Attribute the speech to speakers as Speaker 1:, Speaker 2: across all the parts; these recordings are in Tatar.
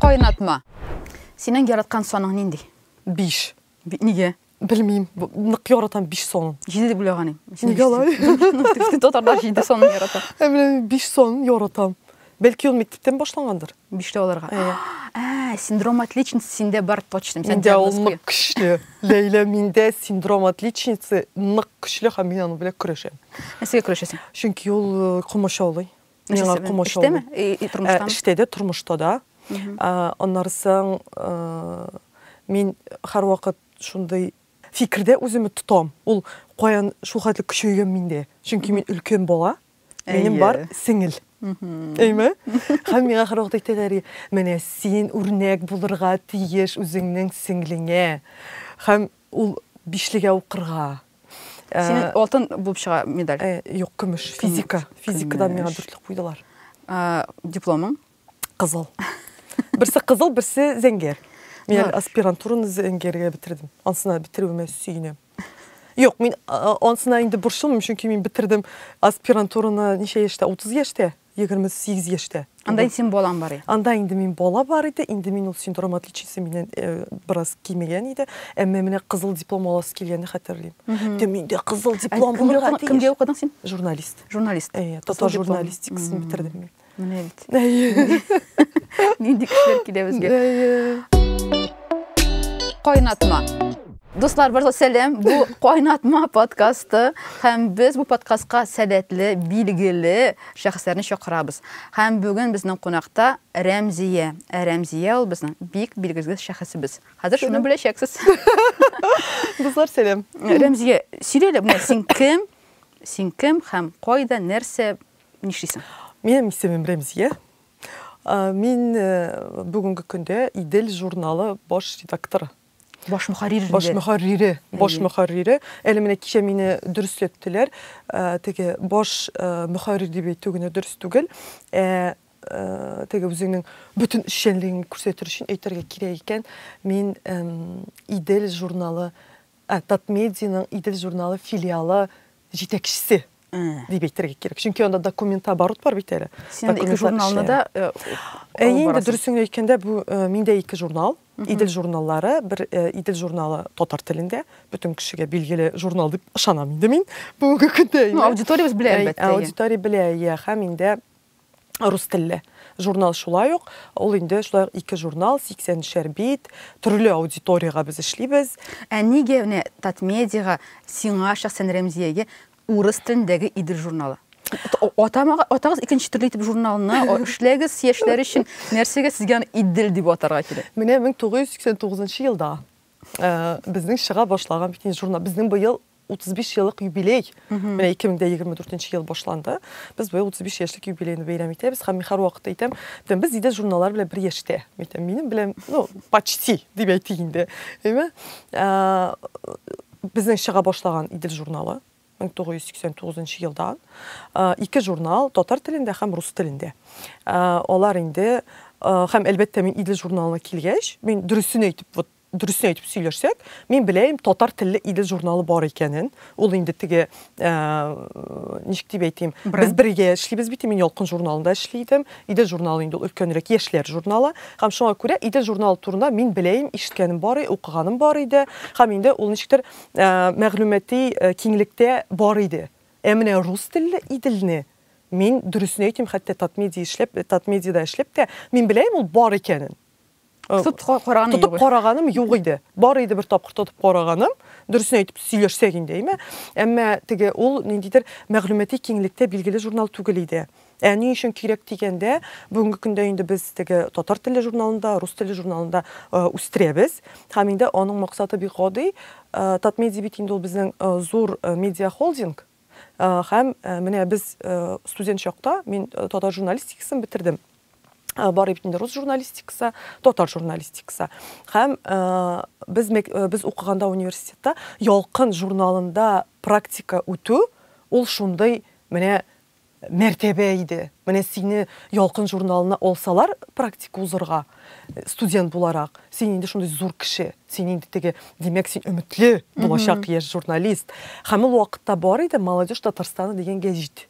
Speaker 1: Кайнатма. Синең яраткан саның нинди? Биш.
Speaker 2: Нигә?
Speaker 1: Белмим.
Speaker 2: Нык яратам биш сон. Җиде дип уйлаганым.
Speaker 1: Нигә алай?
Speaker 2: Татарлар
Speaker 1: җиде сон ярата. Ә менә биш сон
Speaker 2: яратам. Бәлки ул мектептән башлангандыр? Биштә алырга.
Speaker 1: Әйе. Ә, синдром отличницы синдә бар точно. Сән Миндә ул нык
Speaker 2: көчле. Ләйлә, миндә синдром отличницы нык көчле һәм мин аны белән көрәшәм. Нәрсәгә көрәшәсең?
Speaker 1: Чөнки ул э,
Speaker 2: комачаулый. Миңа комачаулый.
Speaker 1: Эштәме? И, и, тормыштамы? Э, эштә дә, тормышта
Speaker 2: да. Аннары соң э, мин һәрвакыт шундый фикердә үземне тотам. Ул каян шул хәтле көчәйгән миндә. Чөнки мин өлкән бала. Минем бар сеңел. Әйме? Хәм миңа хәр вакыт әйтәләр, менә син үрнәк булырга тиеш үзеңнең сеңлеңә. Хәм ул бишлегә укырга. Синең
Speaker 1: э, алтын булып чыга медаль. Э, юк, көмеш,
Speaker 2: физика. Физикадан миңа дүртлек куйдылар. Э, дипломың?
Speaker 1: Кызыл.
Speaker 2: Берсе кызыл, берсе зәңгәр. Мин әле аспирантураны зәңгәргә бетердем. Ансына бетерүемә сөенәм. Юк, мин ансына инде борчылмыйм, чөнки мин бетердем аспирантураны ничә яшьтә? 30 яшьтә, 28 яшьтә. Анда инде син балаң бар
Speaker 1: иде. Анда инде мин бала
Speaker 2: бар иде, инде мин ул синдром отличницы миннән э, бераз кимегән иде. Әмма менә кызыл диплом аласы килгәнне хәтерлим. Дә миндә кызыл диплом булырга тиеш. Кемгә укыдың син? Журналист.
Speaker 1: Журналист. Әйе,
Speaker 2: татар
Speaker 1: журналистикасын
Speaker 2: бетердем мин. Менә бит.
Speaker 1: Нинди кешеләр килә безгә. Кайнатма. Дуслар, барлык сәлам. Бу кайнатма подкасты һәм без бу подкастка сәләтле, билгеле шәхесләрне чакырабыз. Һәм бүген безнең кунакта Рәмзия. Ә Рәмзия ул безнең бик билгеле шәхесебез. Хәзер шуны беләчәксез.
Speaker 2: Дуслар, сәлам. Рәмзия,
Speaker 1: сөйлә әле, син кем? Син кем һәм кайда, нәрсә Нишлисең? Минем исемем
Speaker 2: Рәмзия. Мин бүгенге көндә Идел журналы баш редакторы. Баш мөхәррире.
Speaker 1: Баш мөхәррире. Баш
Speaker 2: мөхәррире. Әле менә кичә мине дөресләттеләр. Теге баш мөхәррир дип әйтү генә дөрес түгел. Ә теге үзеңнең бөтен эшчәнлегеңне күрсәтер өчен әйтергә кирәк икән, мин Идел журналы, Татмедианың Идел журналы филиалы җитәкчесе дип әйтергә кирәк. Чөнки анда документооборот бар бит әле. Син ике журналны
Speaker 1: да э, Ә инде
Speaker 2: дөресен әйткәндә, бу э, миндә ике журнал, Идел журналлары, бер э, Идел журналы татар телендә, бөтен кешегә билгеле журнал дип ышанам инде мин бүгенге көндә. Ну, аудиториябез белә әлбәттә.
Speaker 1: Аудитория белә, я,
Speaker 2: һәм инде рус телле журнал шулай ук. Ул инде шулай ук ике журнал, 80 шәр бит, төрле аудиториягә без эшлибез. Ә нигә менә
Speaker 1: Татмедиага, сиңа шәхсән Рәмзиягә урыс телендәге Идел журналы? Атамага, атагыз икенче төрле итеп журналны, эшләгез яшьләр өчен, нәрсәгә сезгә аны Идел дип атарга кирәк? Менә
Speaker 2: 1989 елда безнең чыга башлаган бит инде журнал, безнең быел 35 еллык юбилей. Менә 2024 ел башланды. Без быел 35 яшьлек юбилейны бәйрәм итәбез. Һәм мин һәрвакыт әйтәм, дим, без Идел журналлары белән бер яшьтә. Әйтәм, минем белән, ну, почти дип әйтик инде. Әйме? Безнең чыга башлаган Идел журналы 1989 елдан. Ике журнал, татар телендә һәм рус телендә. Алар инде һәм әлбәттә мин Идел журналына килгәч, мин дөресен әйтеп, вот Дөресен әйтеп сөйләшсәк, мин беләем татар телле Идел журналы бар икәнен. Ул инде теге, ә, ничек дип әйтим, без бергә эшлибез бит, мин Ялкын журналында эшли идем. Идел журналы инде ул өлкәнрәк яшьләр журналы. Һәм шуңа күрә Идел журналы турында мин беләем, ишеткәнем бар, укыганым бар иде. Һәм инде ул ничектер ә, мәгълүмати ә, киңлектә бар иде. Ә менә рус телле Иделне мин дөресен әйтим, хәтта Татмедиа эшләп, Татмедиада эшләп тә, мин беләем ул бар икәнен. Тотып караганым юк. Тотып караганым юк иде. Бар иде бер тапкыр тотып караганым. Дөресен әйтеп сөйләшсәк инде, әйме? Әмма теге ул ниндидер мәгълүмати киңлектә билгеле журнал түгел иде. Ә ни өчен кирәк дигәндә, бүгенге көндә инде без теге татар теле журналында, рус теле журналында э, үстерәбез. Һәм инде аның максаты бик гади. Э, Татмедиа бит инде ул безнең э, зур медиа холдинг, Һәм менә без студент чакта мин татар журналистикасын бетердем. Бар бит инде рус журналистикасы, татар журналистикасы. Һәм без без укыганда университетта Ялкын журналында практика үтү ул шундый менә Мәртәбә иде. Менә сине Ялкын журналына алсалар практика узырга, студент буларак, син инде шундый зур кеше, син инде теге, димәк, син өметле булачак яшь журналист. Һәм ул вакытта бар иде Молодежь Татарстана дигән гәҗит.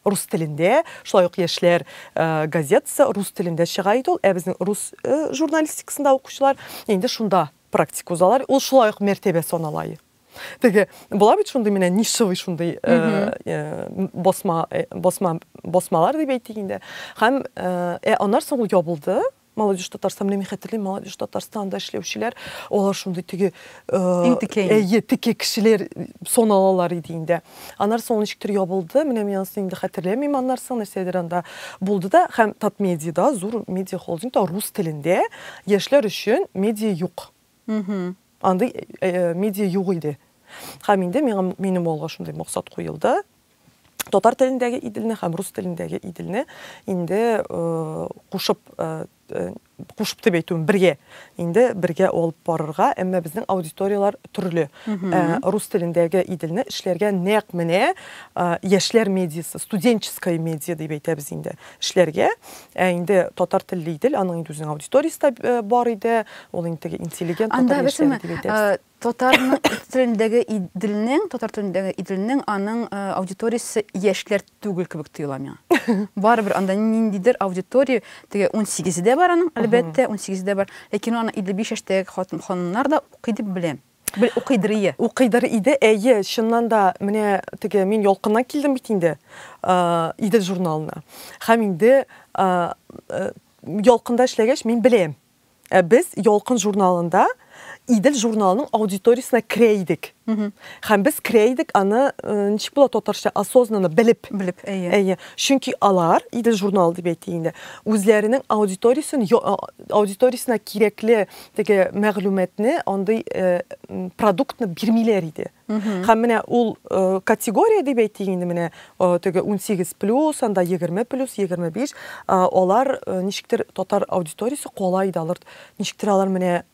Speaker 2: Рус телендә, шулай ук яшьләр газетасы рус телендә чыга иде ул, ә безнең рус журналистикасында укучылар инде шунда практика узалар, ул шулай ук мәртәбә санала иде. Теге була бит шундый менә нишевый шундый э, э, басма э, басма басмалар дип әйтик инде. Һәм э, аннан соң ул ябылды. Молодежь Татарстан менә мин хәтерлим, Молодежь Татарстанда эшләүчеләр, алар шундый теге әйе, теге кешеләр соналалар иде инде. Аннан соң ничектер ябылды, менә мин анысын инде хәтерләмим, аннан соң нәрсәдер анда булды да, һәм Татмедиада, зур медиа холдингта рус телендә яшьләр өчен медиа юк. Андый медиа юк иде. Һәм инде миңа, минем алга шундый максат куелды, татар телендәге Иделне һәм рус телендәге Иделне инде кушып, кушып дип әйтүем, бергә, инде бергә алып барырга, әмма безнең аудиторияләр төрле. Рус телендәге Иделне эшләргә нәкъ менә яшьләр медиасы, студенческая медиа дип әйтәбез инде. эшләргә. Ә инде татар телле Идел, аның инде үзенең аудиториясе дә э, бар иде. Ул инде теге интеллигент Анда татар яшьләре бесәме, дип әйтәбез. э, татар
Speaker 1: телендәге Иделнең, татар телендәге Иделнең аның э, аудиториясе яшьләр түгел кебек тоела миңа. Барыбер анда ниндидер аудитория, теге 18 дә бар аның, әлбәттә, 18 дә бар. Ләкин ул аны 55 яшьтәге хатын ханымнар да укый дип беләм. Бел, укыйдыр ие. Укыйдыр иде, әйе, чыннан
Speaker 2: да, менә теге мин ялкыннан килдем бит инде Идел журналына. Һәм инде ялкында эшләгәч, мин беләм. Ә без ялкын журналында Идел журналының аудиториясенә керә идек. Һәм без керә идек аны, ничек була татарча, осознанно белеп. Белеп, әйе. Әйе. Чөнки алар, Идел журналы дип әйтик инде, үзләренең аудиториясен аудиториясенә кирәкле Теге мәгълүматны, андый продуктны бирмиләр иде. Һәм менә ул категория дип әйтик инде менә теге 18 плюс, анда 20 плюс, 25, алар ничектер татар аудиториясе кала иде, алар ничектер алар менә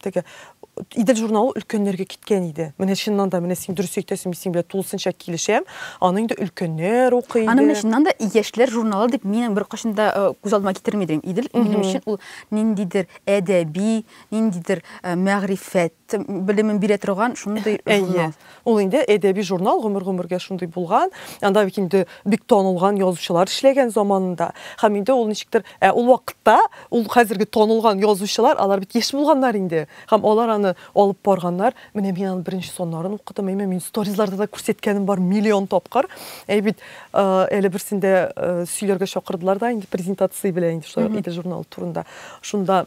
Speaker 2: теге Идел журналы өлкәннәргә киткән иде. Менә чыннан да, менә син дөрес әйтәсең, мин синең белән тулысынча килешәм. Аны инде өлкәннәр укый иде. Аны менә чыннан да
Speaker 1: яшьләр журналы дип минем беркайчан да э, күз алдыма китерми идем. Идел минем өчен ул ниндидер әдәби, ниндидер э, мәгърифәт белемен бирә торган шундый журнал. Әйе. Ул инде әдәби
Speaker 2: журнал гомер-гомергә шундый булган, анда бит инде бик танылган язучылар эшләгән заманында. Һәм инде ул ничектер, ә ул вакытта ул хәзерге танылган язучылар, алар бит яшь булганнар инде. Һәм алар аны алып барганнар. Менә мин аның беренче саннарын укыдым. Әйме, мин сторизларда да күрсәткәнем бар миллион тапкыр. Әй бит, әле берсендә сөйләргә чакырдылар да инде презентация белән инде шулай ук иде журналы турында. Шунда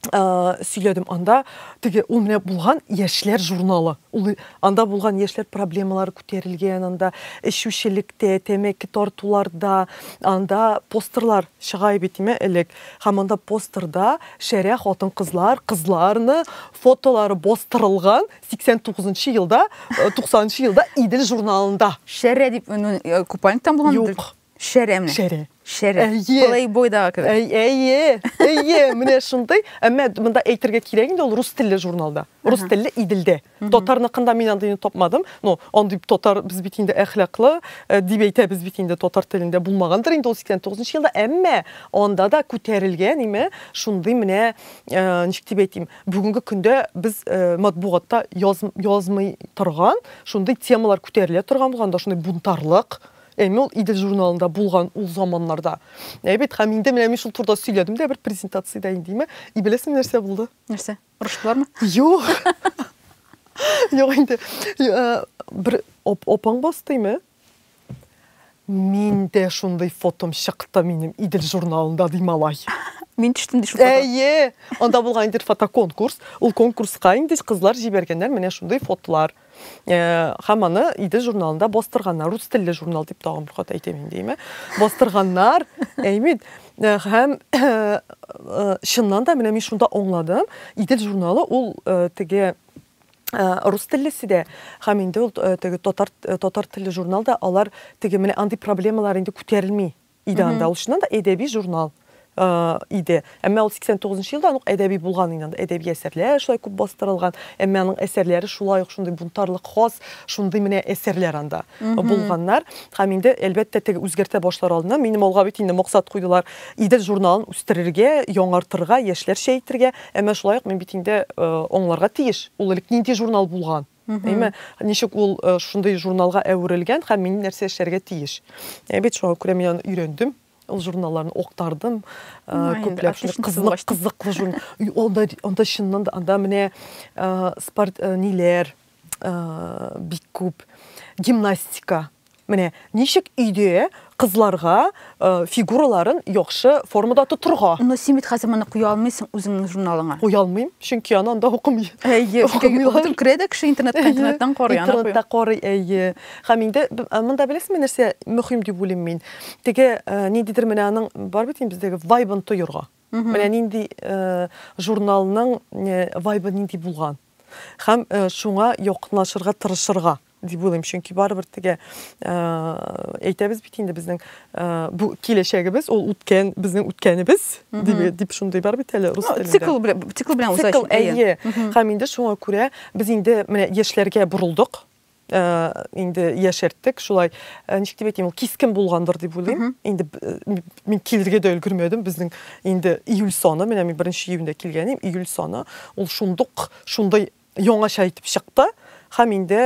Speaker 2: сөйләдем анда теге ул менә булган яшьләр журналы ул анда булган яшьләр проблемалары күтәрелгән анда эчүчелектә тәмәке тартуларда анда постерлар чыга бит име элек һәм анда постерда шәрә хатын кызлар кызларны фотолары бастырылган 89 елда 90 елда идел журналында шәрә дип
Speaker 1: купальниктан булган юк Шәреме?
Speaker 2: Шәре.
Speaker 1: Шәре. Әйе. Плейбой да кебек. Әйе. Әйе,
Speaker 2: менә шундый. Әмма монда әйтергә кирәк инде ул рус телле журналда. Рус телле Иделдә. Татарныкында мин андыйны тапмадым. Ну, андый татар без бит инде әхлаклы э, дип әйтәбез бит инде татар телендә булмагандыр инде ул 89 елда. Әмма анда да күтәрелгән име шундый менә э, ничек дип әйтим, бүгенге көндә без э, матбугатта язмый торган шундый темалар күтәрелә торган булганда шундый бунтарлык Әмма ул Идел журналында булган ул заманнарда. Ә бит һәм инде менә мин шул турыда сөйләдем дә бер презентациядә индеме. И беләсең нәрсә булды? Нәрсә? Урышлармы?
Speaker 1: Юк.
Speaker 2: Юк инде. Бер опаң бастыймы? Мин дә шундый фотом чыкты минем Идел журналында ди малай. Мин төштем ди
Speaker 1: шул фото. Әйе. Анда
Speaker 2: булган инде фотоконкурс. Ул конкурска инде кызлар җибәргәннәр менә шундый фотлар. һәм э, аны иде журналында бастырганнар рус телле журнал дип тагын бер кат әйтәм инде әйме бастырганнар әймит э, һәм э, чыннан да менә мин шунда аңладым идел журналы ул теге Э, рус теллесе дә һәм инде ул э, теге татар э, татар телле журналда алар теге менә андый проблемалар инде күтәрелми Идән алышыннан да әдәби журнал иде. Әмма ул 89 елда ук әдәби булган инде. Анда әдәби әсәрләр шулай күп бастырылган. Әмма аның әсәрләре шулай ук шундый бунтарлык хас, шундый менә әсәрләр анда булганнар. Һәм инде әлбәттә теге үзгәртә башлар алдыннан минем алга бит инде максат куйдылар. Идел журналын үстерергә, яңартырга, яшьләрчә итергә. Әмма шулай ук мин бит инде аңларга тиеш, ул элек нинди журнал булган. Әйме, ничек ул э, шундый журналга әверелгән һәм мин нәрсә эшләргә тиеш? Ә бит шуңа күрә мин аны өйрәндем ул журналларны октардым күпләп кызык кызыклы журн анда анда чыннан да анда менә спорт ниләр бик күп гимнастика Менә ничек өйдә кызларга фигураларын яхшы формада тотырга. Но син бит хәзер моны
Speaker 1: куя алмыйсың үзеңнең журналыңа. Куя алмыйм, чөнки
Speaker 2: аны анда укымый. Әйе, укымыйлар.
Speaker 1: Керә дә кеше интернетка, интернеттан карый. Интернетта карый, әйе.
Speaker 2: Һәм инде монда беләсезме нәрсә мөһим дип уйлыйм мин? Теге ниндидер менә аның бар бит инде бездәге вайбын тоерга. Менә нинди журналның вайбы нинди булган. Һәм шуңа якынлашырга тырышырга. дип уйлыйм, чөнки барыбер теге э, әйтәбез бит инде безнең э, бу киләчәгебез ул үткән безнең үткәнебез дип дип шундый бар бит әле рус телендә. Цикл белән цикл белән уза. Цикл
Speaker 1: әйе. Һәм инде
Speaker 2: шуңа күрә без инде менә яшьләргә бурылдык. Э, инде яшәрттек шулай э, ничек дип әйтим ул кискен булгандыр дип уйлыйм инде э, мин килергә дә өлгермәдем безнең инде июль саны менә мин беренче июньдә килгән идем июль саны ул шундук шундай яңача итеп чыкты һәм инде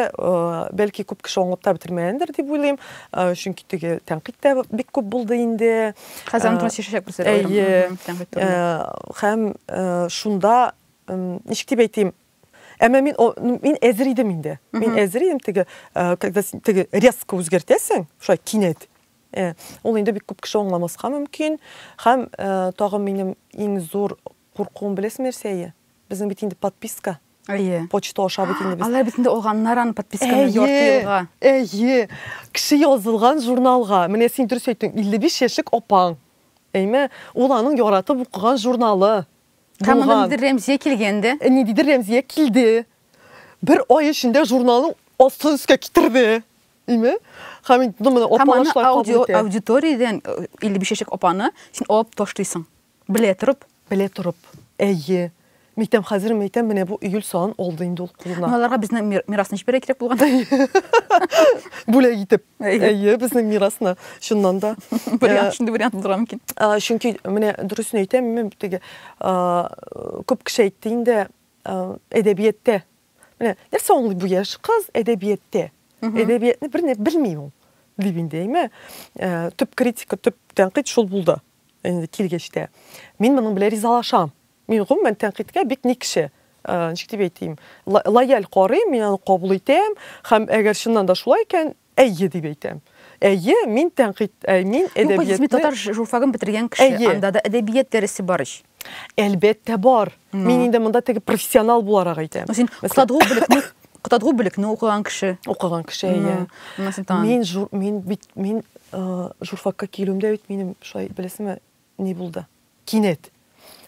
Speaker 2: бәлки күп кеше аңлап та бетермәгәндер дип уйлыйм чөнки теге тәнкыйть тә бик күп булды инде хәзер аны чишәчәк
Speaker 1: без һәм
Speaker 2: шунда ничек дип әйтим әмма мин мин әзер идем инде мин әзер идем теге когда теге резко үзгәртәсең шулай кинәт ул инде бик күп кеше аңламаска мөмкин һәм тагын минем иң зур Куркуым беләсеңме нәрсә әйе? Безнең бит инде подписка. Әйе. Почта аша бит инде без. Алар бит инде алганнар аны
Speaker 1: подписканы ярты елга. Әйе. Кеше
Speaker 2: язылган журналга. Менә син дөрес әйттең, 55 яшьлек апаң. Әйме? Ул аның яратып укыган журналы. Һәм монда ниндидер
Speaker 1: Рәмзия килгән дә. Ниндидер Рәмзия
Speaker 2: килде. Бер ай эчендә журналның астын өскә китерде. Әйме? Һәм инде моны апалашлар кабул итә. Аудиториядән
Speaker 1: 55 яшьлек апаны син алып ташлыйсың. Белә торып. Белә торып. Әйе.
Speaker 2: Мәйтәм, хәзер мәйтәм, менә бу июль саен алды инде ул кулына. Ну, аларга безнең мирасны
Speaker 1: җибәрә кирәк булган.
Speaker 2: Бүләк итеп. Әйе, безнең мирасны. Шуннан да. Вариант, шундый вариант
Speaker 1: булдыра мөмкин. Чөнки менә
Speaker 2: дөресен әйтәм, мин теге күп кеше әйтте инде, әдәбияттә. Менә нәрсә аңлый бу яшь кыз әдәбияттә? Әдәбиятны берни белми ул. Дип инде, әйме? Төп критика, төп тәнкыйть шул булды. Инде килгәч тә. Мин моның белән ризалашам. Мин гомумән тәнкыйтькә бик никче, э, ничек дип әйтим, лояль карыйм, мин аны кабул итәм һәм әгәр чыннан да шулай икән, әйе дип әйтәм. Әйе, мин тәнкыйть, э, мин әдәбиятны... Юк, татар журфагын
Speaker 1: бетергән кеше, анда да әдәбият дәресе бар ич. Әлбәттә
Speaker 2: бар. Ну. Мин инде монда теге профессионал буларак әйтәм. Ну, син кытадгу бүлекне
Speaker 1: кытадгу бүлекне укыган кеше. Укыган кеше, әйе. Мин жур,
Speaker 2: мин бит мин э, журфакка килүемдә бит минем шулай беләсеңме ни булды? Кинәт.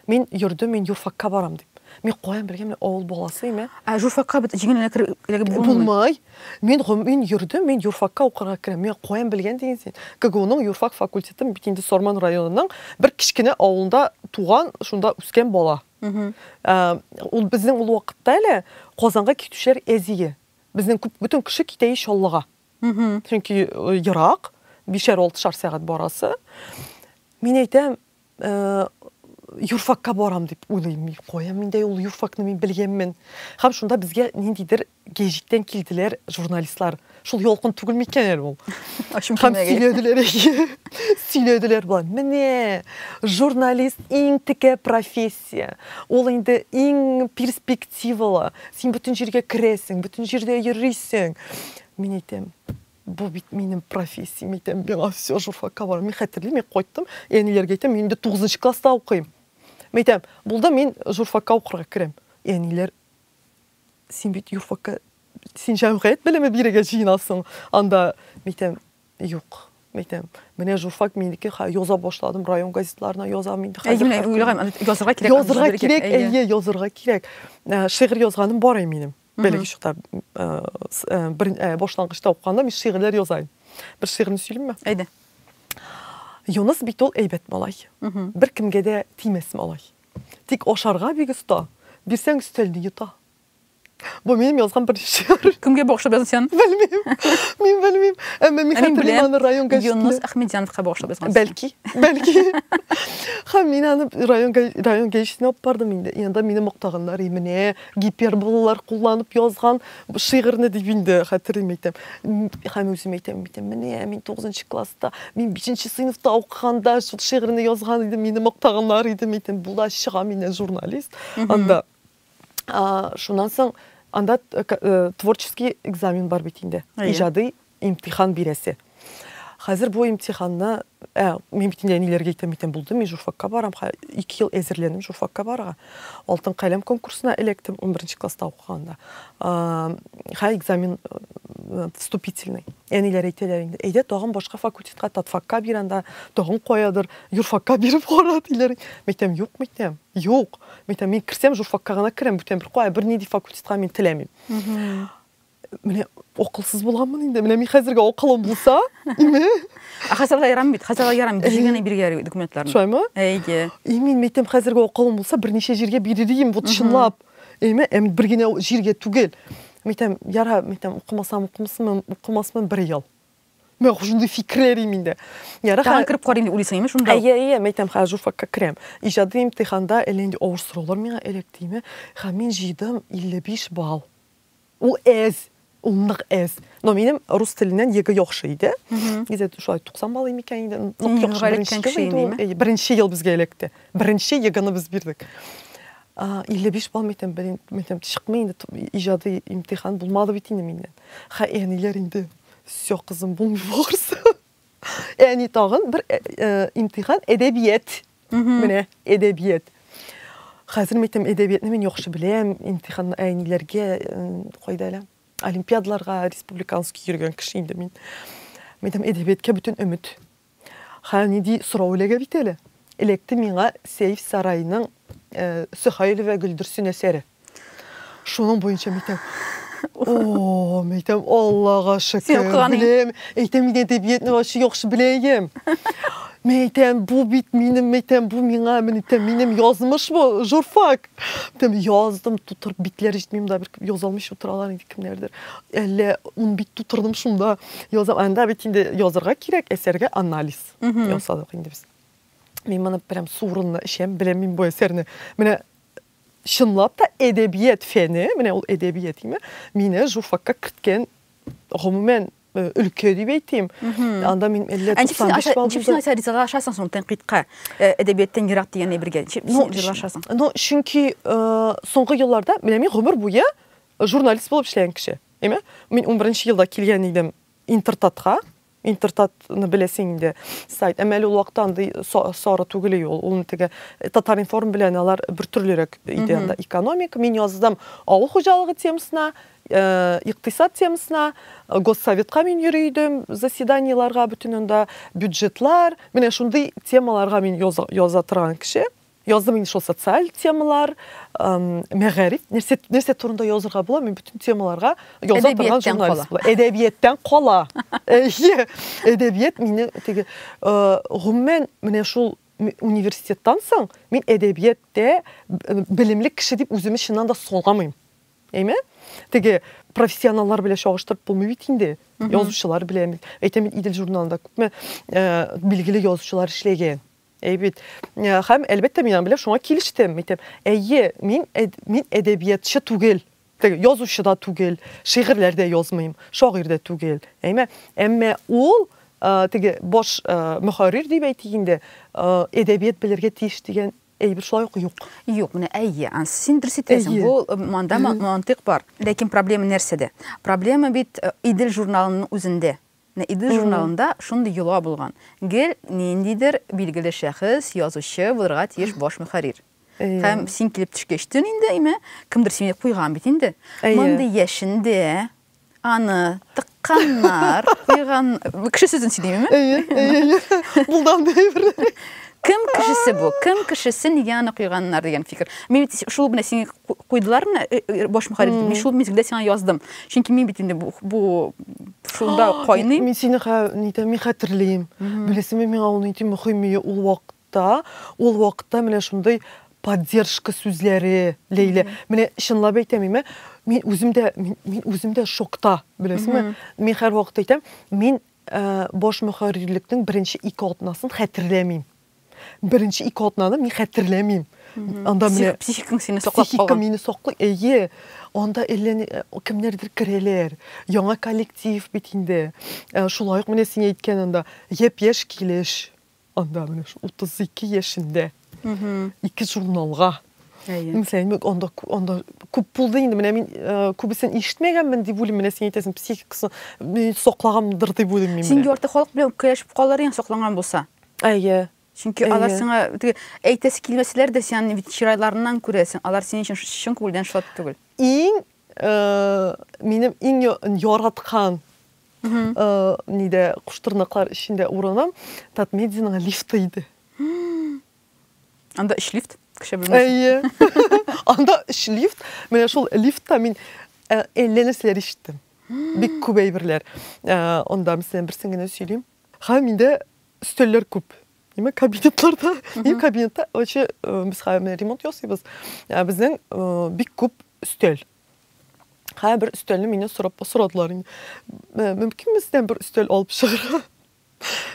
Speaker 2: Мин йөрдем, мин юрфакка барам дип. Мин каян белгән, мин авыл баласы име? Ә журфакка бит җиңел
Speaker 1: эләгеп булмый. Булмай.
Speaker 2: Мин гом мин йөрдем, мин юрфакка укырга керәм. Миңа каян белгән диген син? КГУның юрфак факультетын бит инде Сорман районының бер кечкенә авылында туган, шунда үскән бала. Мгм. Ә, Ул безнең ул вакытта әле Казанга китүчеләр әзие. Безнең күп бөтен кеше китә и Чаллыга. Мгм. Чөнки э, ерак, бишәр-алтышар сәгать барасы. Мин әйтәм, юрфакка барам дип уйлыйм мин кая миндә ул юрфакны мин белгәнмен һәм шунда безгә ниндидер гәҗиттән килделәр журналистлар шул ялкын түгел микән әле ул һәм сөйләделәр сөйләделәр болар менә журналист иң текә профессия ул инде иң перспективалы син бөтен җиргә керәсең бөтен җирдә йөрисең мин әйтәм Бу бит минем профессиям итәм, миңа все журфакка барам. Мин хәтерлим, мин кайттым, әниләргә әйтәм, мин инде 9 класста укыйм. Мин әйтәм, булды, мин журфакка укырга керәм. Әниләр, син бит юрфакка, син җәмгыять белеме бирергә җыенасың анда. Мин әйтәм, юк, әйтәм. Менә журфак минеке, ха, яза башладым, район газетларына язам инде. Әй, менә уйлаган, язырга
Speaker 1: кирәк. Язырга кирәк, әйе, язырга
Speaker 2: кирәк. Шигырь язганым бар әй минем. Бәләкәй чакта бер башлангычта укыганда мин шигырьләр яза идем. Бер шигырьне сөйлимме? Әйдә. Юныс бит ул әйбәт малай. Бер кемгә дә тимәс малай. Тик ашарга бик оста. Бирсәң өстәлне йота. Бу минем язган бер шигырь. Кемгә багышлап язган син?
Speaker 1: Белмим. Мин
Speaker 2: белмим. Әмма мин хәтерлим аны район газетында. Юнус Әхмедяновка
Speaker 1: багышлап язган. Бәлки, бәлки.
Speaker 2: Һәм мин аны район район газетына алып бардым инде. Янда мине мактаганнар, и менә гиперболалар кулланып язган шигырьне дип инде хәтерлим әйтәм. Һәм үзем әйтәм, әйтәм, менә мин 9 класста, мин 5 сыйныфта укыганда шул шигырьне язган идем, мине мактаганнар иде, әйтәм, була чыга мине журналист. Анда шуннан соң анда э, э, творческий экзамен бар бит инде. Иҗади Имтихан бирәсе. Хәзер бу имтиханны, ә, мин бит инде әниләргә әйтәм икән, булды, мин журфакка барам, хә, ике ел әзерләнем журфакка барырга. Алтын каләм конкурсына эләктем, унберенче класста укыганда. А, хә, экзамен, э, вступительный. Әниләр әйтәләр инде, әйдә тагын башка факультетка, татфакка бир анда, тагын каядыр, юрфакка биреп кара, диләр. Мин әйтәм, юк, мин әйтәм, юк. Мин әйтәм, мин керсәм, журфакка гына керәм, бүтән бер кая, бернинди факультетка мин теләмим. Менә акылсыз булганмын инде. Менә мин хәзергә акылым булса, име? Ә хәзергә
Speaker 1: ярам бит, хәзергә ярам бит. Җигәне биргә документларны. Шулаймы? Әйе.
Speaker 2: И мин
Speaker 1: мәйтәм хәзергә
Speaker 2: акылым булса, берничә җиргә бирер идем, вот чынлап. Әйме? Әм бер генә җиргә түгел. Мәйтәм, яра, мәйтәм, укымасам, укымасам, укымасам бер ел. Мен хушунды фикрерим инде. Яра ха. Тагын кирип карыйм дип уйлыйсың,
Speaker 1: имеш шунда. Әйе, әйе, мәйтәм ха
Speaker 2: журфакка керәм. Иҗади имтиханда әллә инде авыр сораулар миңа эләктеме? Ха мин җыйдым 55 балл. Ул әз, ул нык әз. Но минем рус теленнән егэ яхшы иде. Гизәт шулай 90 балл имикән инде. Нык яхшы беренче кеше иде. Беренче ел безгә эләкте. Беренче егыны без бирдек. 55 балл митем, митем чыкмый инде иҗади имтихан булмады бит инде миннән. Хә, әниләр инде. Все, кызым, булмый барысы. Әни тагын бер э, э, имтихан әдәбият. Менә әдәбият. Хәзер мәйтәм әдәбиятны мин яхшы беләм, имтихан әниләргә э, кайда әле? Олимпиадларга республиканский йөргән кеше инде мин. Мәйтәм әдәбиятка бөтен өмет. Ха ниди сорау эләгә бит әле. Электе миңа Сейф Сарайның э, Сөхәйлова Гөлдерсен әсәре. Шуның буенча митәм. О, митәм, Аллага шөкер. Беләм, әйтәм иде әдәбиятны ачы яхшы беләем. Митәм, бу бит минем, митәм, бу миңа, митәм, минем язмыш бу, журфак. Митәм, яздым, тутырып битләр җитмим да, бер яза алмыйча утыралар инде кемнәрдер. Әллә ун бит тутырдым шунда. Язам, анда бит инде язырга кирәк, әсәргә анализ ясадык инде без. Мин моны прям сурынны эчәм, беләм мин бу әсәрне. Менә Чынлап та әдәбият фәне, менә ул әдәбият име, мине журфакка керткән гомумән э, өлкә дип әйтим. Анда мин әллә 95 балл. Чөнки нәрсә ризага ашасың соң
Speaker 1: тәнкыйтькә, э, әдәбияттан ерак дигән әйбергә. Чөнки ашасың. Ну, чөнки э,
Speaker 2: соңгы елларда менә мин гомер буе журналист булып эшләгән кеше. Әйме? Мин 11 елда килгән идем Интертатка. Интертатны беләсең инде сайт. Әмма әле ул вакытта андый сары түгел ул. Ул теге э, Татаринформ белән алар бер төрлерәк иде анда. Экономик, мин яздым авыл хуҗалыгы темасына, э, икътисад темасына, э, госсоветка мин йөри идем, заседаниеларга бөтен анда бюджетлар, менә шундый темаларга мин яза торган кеше. Яздым инде шул социаль темалар, мәгариф, нәрсә, нәрсә турында язырга була, мин бүтән темаларга яза торган журналист була. Әдәбияттан кала. Әйе, әдәбият мине теге, гомумән, менә шул университеттан соң мин әдәбияттә белемле кеше дип үземне чыннан да сорамыйм. Әйме? Теге профессионаллар белән чагыштырып булмый бит инде. Язучылар белән, әйтәм, Идел журналында күпме билгеле язучылар эшләгән. Әй бит. Э, һәм, әлбәттә, мин аның белән шуңа килештем. Әйтәм, әйе, мин, мин әдәбиятчы түгел. Язучы да түгел, шигырьләр дә язмыйм, шагыйрь дә түгел. Әйме? Әмма ул э, теге баш э, мөхәррир дип әйтик инде, әдәбият белергә тиеш дигән әйбер шулай ук юк. Юк, менә әйе.
Speaker 1: Син дөрес әйтәсең. Бу э, монда мантык бар. Ләкин проблема нәрсәдә? Проблема бит э, Идел журналының үзендә. Менә Идел журналында шундый йола булган. Гел ниндидер билгеле шәхес, язучы булырга тиеш баш мөхәррир. Һәм син килеп төшкәч төн инде, име, кемдер сине куйган бит инде. Мондый яшендә аны тыкканнар, куйган... Кеше сүзен сөйлим, име? Әйе, әйе, әйе.
Speaker 2: Булды андый әйберләр. Кем
Speaker 1: кешесе бу? Кем кешесе нигә аны куйганнар дигән фикер. Мин бит шул менә сине куйдылар менә э, э, баш мөхәррир итеп. Мин шул мизгелдә сиңа яздым. Чөнки мин бит инде бу, бу шунда кайный. Мин сине нитәм,
Speaker 2: мин хәтерлим. Беләсеңме, миңа ул нинди мөһим ул вакытта, ул вакытта менә шундый поддержка сүзләре Ләйлә. Менә чынлап әйтәм, мин мин үзем дә мин, мин үзем дә шокта, беләсеңме? Мин һәрвакыт әйтәм, мин Баш мөхәррирлекнең беренче ике атнасын хәтерләмим. Беренче ике атнаны мин хәтерләмим. Анда менә психикаң сине саклап калган. Психика
Speaker 1: мине саклый.
Speaker 2: Әйе. Анда әллә э, кемнәрдер керәләр. Яңа коллектив бит инде. Э, шулай ук менә син әйткән анда япь-яшь килеш. Анда менә 32 яшендә ике журналга Әйе. Анда анда күп булды инде. Менә мин э, күбесен ишетмәгәнмен дип уйлыйм. Менә син әйтәсең, психикасы мин саклагандыр дип уйлыйм мин. Син ярты халык белән
Speaker 1: көрәшеп калыр идең сакланган булса. Әйе.
Speaker 2: Чөнки алар сиңа
Speaker 1: теге әйтәсе килмәсәләр дә син бит чирайларыннан күрәсең. Алар синең өчен чын күңелдән шат түгел. Иң э,
Speaker 2: минем иң яраткан Нидә, куштырнаклар эчендә урыным Татмедианың лифты иде. Анда
Speaker 1: өч лифт, кеше белмәсен. Әйе.
Speaker 2: Анда өч лифт, менә шул лифтта мин әллә нәрсәләр ишеттем. Бик күп әйберләр. Анда, мәсәлән, берсен генә сөйлим. Ха, миндә өстәлләр күп. Нима кабинетларда? Мин кабинетта, оче, без ремонт ясыйбыз. Безнең бик күп өстәл. Хә, бер өстәлне мине сорап сорадылар инде. Э, мөмкин бездән бер өстәл алып чыгыра?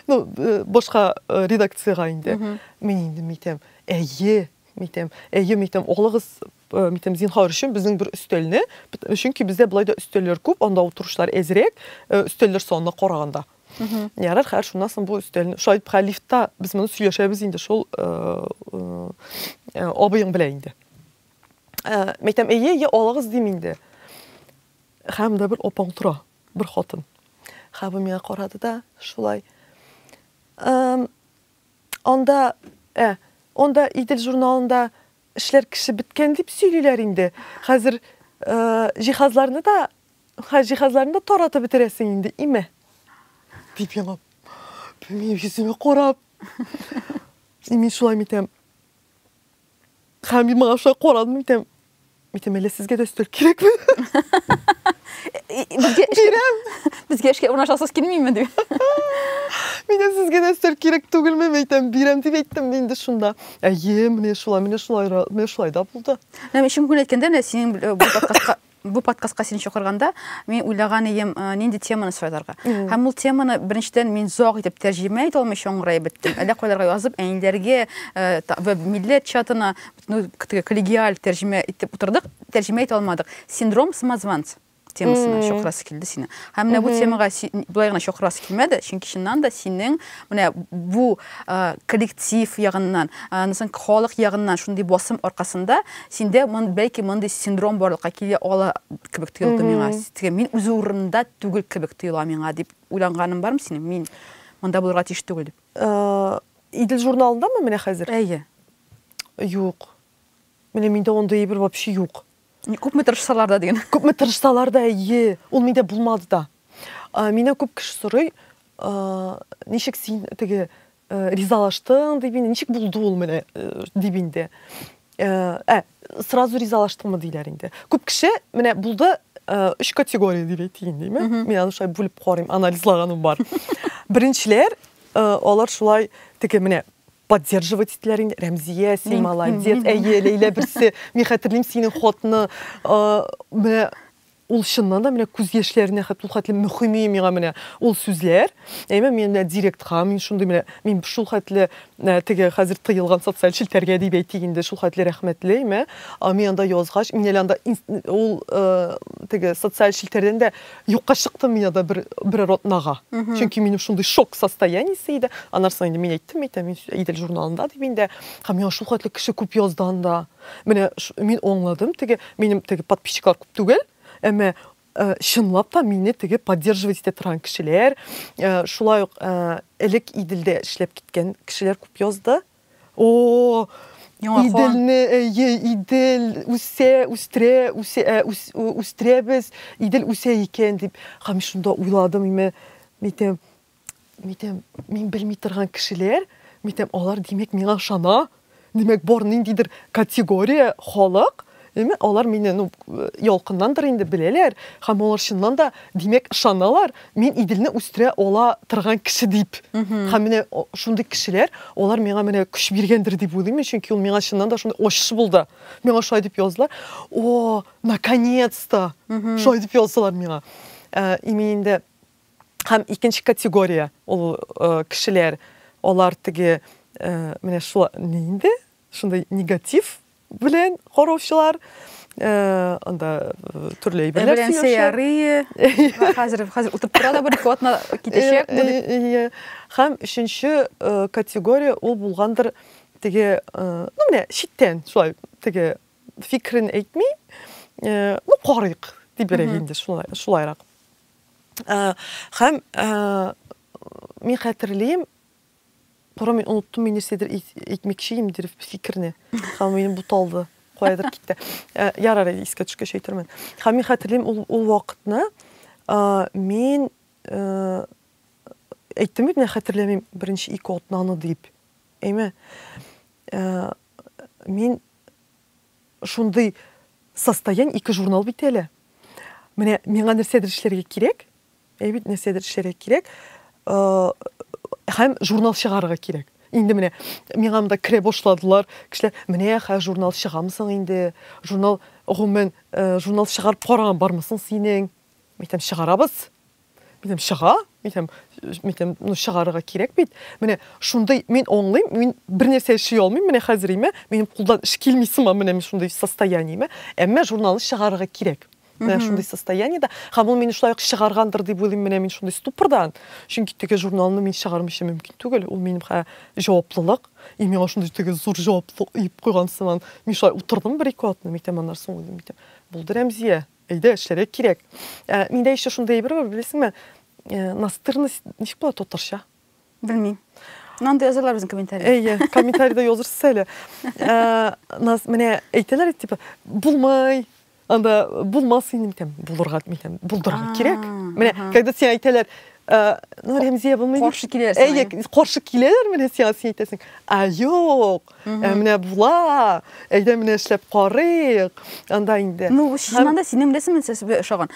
Speaker 2: Ну, э, башка э, редакциягә инде. Мин инде митәм, әйе, митәм, әйе, митәм, алыгыз, митәм, зинхар өчен безнең бер өстәлне, чөнки бездә болай да өстәлләр күп, анда утырышлар әзрәк, өстәлләр санына караганда. Ярар, хәр шуннан соң бу өстәлне, шулай итеп, лифтта без моны сөйләшәбез инде шул абыең белән инде. Ә, мәйтәм, әйе, я алыгыз дим инде. Хәм дә бер опаң тора, бер хатын. Хәбу миңа карады да, шулай. Ә, анда, ә, анда Идел журналында эшләр кеше беткән дип сөйлиләр инде. Хәзер ә, җиһазларны да, хә, җиһазларны да таратып бетерәсең инде, име? Дип елап. Мин йөземә карап. Мин шулай митәм. Һәм мин моңа шуңа карадым икән. Митем, әле сезгә дә өстәл кирәкме? Безгә
Speaker 1: Бирәм. Безгә эшкә урнашасыз килмиме дип.
Speaker 2: Митем, сезгә дә өстәл кирәк түгелме? Митем, бирәм дип әйттем мин инде шунда. Әйе, менә шулай, менә шулай, менә шулай да булды. Һәм өченче көн әйткәндә,
Speaker 1: менә синең бу подкастка Бу подкастка син чакырганда, мин уйлаган идем, нинди теманы сайларга. Һәм ул теманы беренчедән мин зак итеп тәрҗемә итә алмыйча аңгырай беттем. Әллә кайларга язып, әниләргә вә милләт чатына коллегиаль тәрҗемә итеп утырдык, тәрҗемә итә алмадык. Синдром самозванца темасына чакырасы килде сине. Һәм менә бу темага болай гына чакырасы килмәде, чөнки чыннан да синең Менә бу коллектив ягыннан, аннан соң халык ягыннан шундый басым аркасында синдә бәлки мондый синдром барлыкка килә ала кебек тоелды миңа. Мин үз урынымда түгел кебек тоела миңа дип уйланганың бармы синең? Мин монда булырга тиеш түгел дип. Идел
Speaker 2: журналындамы менә хәзер? Әйе.
Speaker 1: Юк.
Speaker 2: Менә миндә андый әйбер вообще юк. Күпме тырышсалар
Speaker 1: да дигән. Күпме тырышсалар да,
Speaker 2: әйе, ул миндә булмады да. Миннән күп кеше сорый, ничек син теге ризалаштың дип инде, ничек булды ул менә дип инде. Ә, сразу ризалаштыңмы диләр инде. Күп кеше менә булды, өч категория дип әйтәйин диме? Мин аны шулай бүлеп карыйм, анализлаганым бар. Беренчеләр, алар шулай теге менә поддерживать иттеләр инде рәмзия син молодец әйе ләйлә берсе мин хәтерлим синең хатны менә ул чыннан да менә күз яшьләренә хәтле ул хәтле мөһим миңа менә ул сүзләр әйме мин менә директка мин шундый менә мин шул хәтле теге хәзер тыелган социаль челтәргә дип әйтик инде шул хәтле рәхмәтле әйме мин анда язгач мин әле анда ул теге социаль челтәрдән дә Юкка чыктым мин анда бер, берәр атнага. Чөнки минем шундый шок состояниесе иде. Аннан соң инде мин әйттем бит, мин Идел журналында дип инде. Һәм миңа шул хәтле кеше күп язды анда. Менә мин аңладым, теге минем теге подписчиклар күп түгел, әмма э, чынлап та мине теге поддерживать итә торган кешеләр, э, шулай ук э, элек Иделдә эшләп киткән кешеләр күп язды. О, Иделне, әйе, Идел үсә, үстерә, үсә, э, үс, үстерәбез, Идел үсә икән дип. Һәм шунда уйладым, име, митем, митем, мин белми торган кешеләр, митем, алар димәк миңа ышана. Димәк, бар ниндидер категория халык Димәк, алар мине, ну, ялкыннандыр инде беләләр һәм алар чыннан да, димәк, ышаналар, мин Иделне үстерә ала торган кеше дип. Һәм менә шундый кешеләр, алар миңа менә көч биргәндер дип уйлыйм, чөнки ул миңа чыннан да шундый ачыш булды. Миңа шулай дип яздылар. О, наконец-то! Шулай дип яздылар миңа. Э, и мин инде һәм икенче категория ул э, кешеләр, алар теге э, менә шулай инде шундый негатив белән караучылар анда төрле әйберләр белән сөйләшә.
Speaker 1: Хәзер хәзер утырып тора да бер ике атна китәчәк. Һәм өченче
Speaker 2: категория ул булгандыр теге, ну менә читтән шулай теге фикрен әйтми, ну карыйк дип берәк инде шулай шулайрак. Һәм мин хәтерлим, Кара, мин оныттым, мин нәрсәдер әйтмәкче идем, дөрес фикерне. Һәм минем буталды, каядыр китте. Э, ярар, искә төшкәч әйтермен. Һәм мин хәтерлим ул, ул вакытны, э, мин э, әйттем бит, мин хәтерләмим, беренче ике атнаны дип. Әйме? Э, мин Шундый состоянь ике журнал бит әле. Менә миңа нәрсәдер эшләргә кирәк. Әй бит нәрсәдер эшләргә кирәк. Һәм журнал чыгарырга кирәк. Инде менә миңа монда керә башладылар. Кешеләр, менә хә журнал чыгамсың инде. Журнал гомумән журнал чыгарып караган бармысың синең? Мәйтәм, чыгарабыз. Минем чыга, минем минем ну чыгарырга кирәк бит. Менә шундый мин аңлыйм, мин бер нәрсә эшли алмыйм, менә хәзер име, минем кулдан эш килми сыман менә мин шундый состояниеме. Әмма журналны чыгарырга кирәк. Менә шундый состояниедә, һәм ул мине шулай ук чыгаргандыр дип уйлыйм, менә мин шундый ступордан. Чөнки теге журналны мин чыгармыйча мөмкин түгел, ул минем хә җаваплылык. И миңа шундый теге зур җаваплылык иеп куйган сыман. Мин шулай утырдым бер-ике атна, митәм аннары соң уйлыйм, митәм. Булды Рәмзия, Әйдә, эшләргә кирәк. Ә, миндә еще шундый әйбер бар, беләсеңме? Ә, настырность ничек була татарча? Белмим.
Speaker 1: Нанда язалар безнең комментарий. Әйе, комментарийда
Speaker 2: язырсыз әле. Ә, нас менә әйтәләр типа, булмай, анда булмас инде микән, булырга микән, булдырырга кирәк. Менә, когда син әйтәләр, ну, Рәмзия булмый. Каршы киләләр. Әйе,
Speaker 1: каршы
Speaker 2: киләләр менә сиңа, син әйтәсең. А, юк. Ә менә була, әйдә менә эшләп карыйк, анда инде. Ну, чыннан да синең беләсең
Speaker 1: мин сезгә ошаган.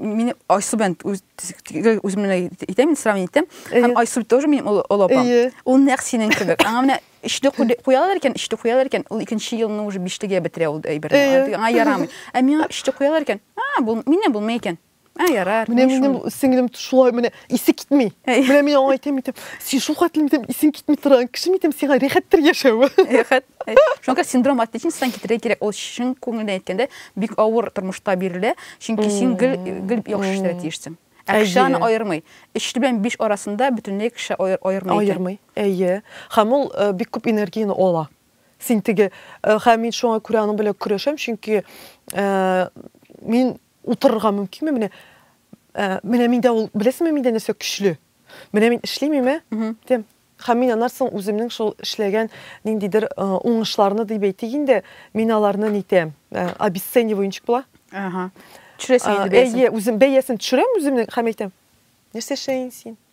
Speaker 1: Мин Айсу белән үзем менә әйтәм, мин сравнение итәм. Һәм Айсу тоже минем олы апам. Ул нәкъ синең кебек. Аңа менә өчтә куялар икән, өчтә куялар икән, ул икенче елны уже биштәгә бетерә ул әйберне. Аңа ярамый. Ә миңа өчтә куялар икән, а, бу мине булмый икән. Ә, ярар. Менә минем сеңлем
Speaker 2: шулай менә исе китми. Менә мин аңа әйтәм итеп, син шул хәтле итеп исең китми торган кеше митем сиңа рәхәттер яшәве. Рәхәт.
Speaker 1: Шуңа синдром отличница китерә кирәк. Ул чын күңелдән әйткәндә бик авыр тормышта бирелә. Чөнки син гел гел яхшы эшләргә тиешсең. Акчаны аермый. Эшле белән биш арасында бөтенләй кеше аермый. Аермый. Әйе.
Speaker 2: Һәм ул э, бик күп энергияне ала. Син теге э, һәм мин шуңа күрә аның белән көрәшәм, чөнки э, мин Утырырга мөмкинме? Менә ә, менә миндә ул, беләсеңме миндә нәрсә көчле? Менә мин эшлимиме? Дим. Һәм мин аннан соң үземнең шул эшләгән ниндидер э, уңышларны дип әйтик инде, мин аларны нитәм, э, обесцениваю ничек була? Ага. Төшерәсең
Speaker 1: инде бәясен. Әйе, үзем бәясен төшерәм
Speaker 2: үземнең һәм әйтәм. Нәрсә эшләйсең син?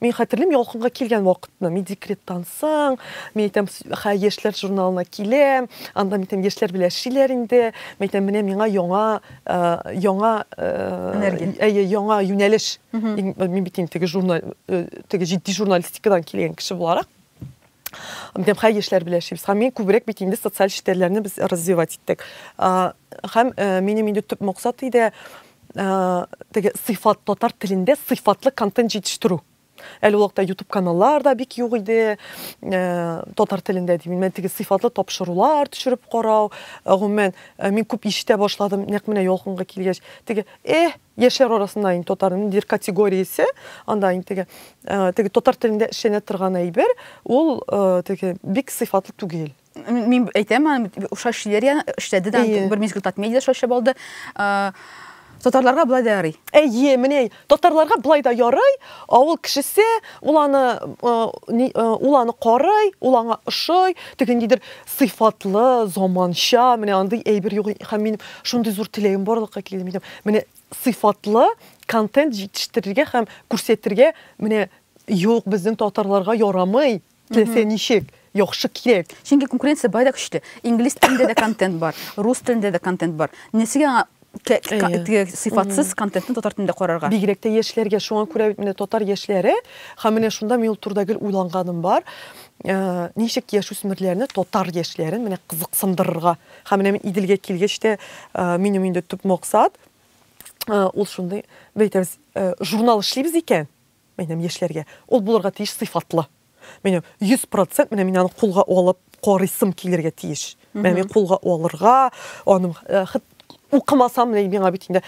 Speaker 2: Мин хәтерлим, ялкынга килгән вакытны. Мин декреттан соң, мин әйтәм, хә, яшьләр журналына киләм, анда мин әйтәм, яшьләр белән эшлиләр инде. Мин әйтәм, менә миңа яңа, ә, яңа, ә, әйе, яңа юнәлеш. Мин бит инде теге журнал, теге җитди журналистикадан килгән кеше буларак. Һәм хәй эшләр белән эшлибез. Һәм мин күбрәк бит инде социаль челтәрләрне без развивать иттек. Һәм э, минем инде төп максат иде э, теге сыйфат татар телендә сыйфатлы контент җитештерү. Әле вакытта YouTube каналлар да бик юк иде. Э, татар телендә дим. Мен теге сыйфатлы тапшырулар төшереп карау. Гомумән, мин күп ишетә башладым, нәкъ менә ялкынга килгәч. Теге, "Э, Яшьләр арасында инде татарның дир категориясе, анда инде теге, теге татар телендә эшләнә торган әйбер, ул теге бик сыйфатлы түгел. Мин әйтәм,
Speaker 1: Уша Шилерия эшләде дә, бер мизгел Татмедиада эшләп алды. Татарларга былай да ярый. Әйе, менә
Speaker 2: татарларга былай да ярый. Авыл кешесе, ул аны ул аны карый, ул аңа ошый, теге ниндидер сыйфатлы, заманча, менә андый әйбер юк һәм мин шундый зур теләгем барлыкка килдем идем. Менә сыйфатлы контент җитештерергә һәм күрсәтергә менә юк безнең татарларга ярамый. Теләсә ничек яхшы кирәк. Чөнки конкуренция бай да
Speaker 1: көчле. Инглиз телендә дә контент бар, рус телендә дә контент бар. Нәрсәгә аңа сыйфатсыз контентны татар телендә карарга. Бигрәк тә яшьләргә,
Speaker 2: шуңа күрә бит менә татар яшьләре, һәм менә шунда мин ул турыда гел уйланганым бар, ничек яшүсмерләрне, татар яшьләрен менә кызыксындырырга. Һәм менә мин Иделгә килгәч тә, минем инде төп максат, ул шундый, бәйтәбез, журнал эшлибез икән, Минем яшьләргә ул булырга тиеш сыйфатлы. Минем 100% менә мин аны кулга алып карыйсым килергә тиеш. Менә мин кулга алырга, аның э, хит укымасам менә миңа бит инде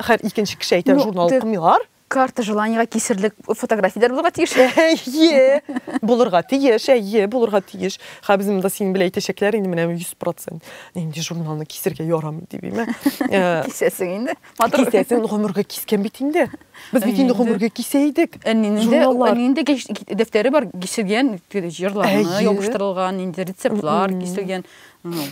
Speaker 2: хәр икенче кеше әйтә ну, журнал укымыйлар. Карта желаниега
Speaker 1: кисерлек фотографияләр булырга тиеш. Әйе,
Speaker 2: булырга тиеш, әйе, булырга тиеш. Ха безнең монда синең белән әйтәчәкләр инде менә 100%. Нинди журналны кисергә ярамый дип, әйме? Э, Кисәсең
Speaker 1: инде. Матур. Кисәсен гомергә
Speaker 2: кискән бит инде. Без бит инде гомергә кисә идек. Әнинде
Speaker 1: дәфтәре бар, киселгән җырларны ябыштырылган, инде рецептлар киселгән.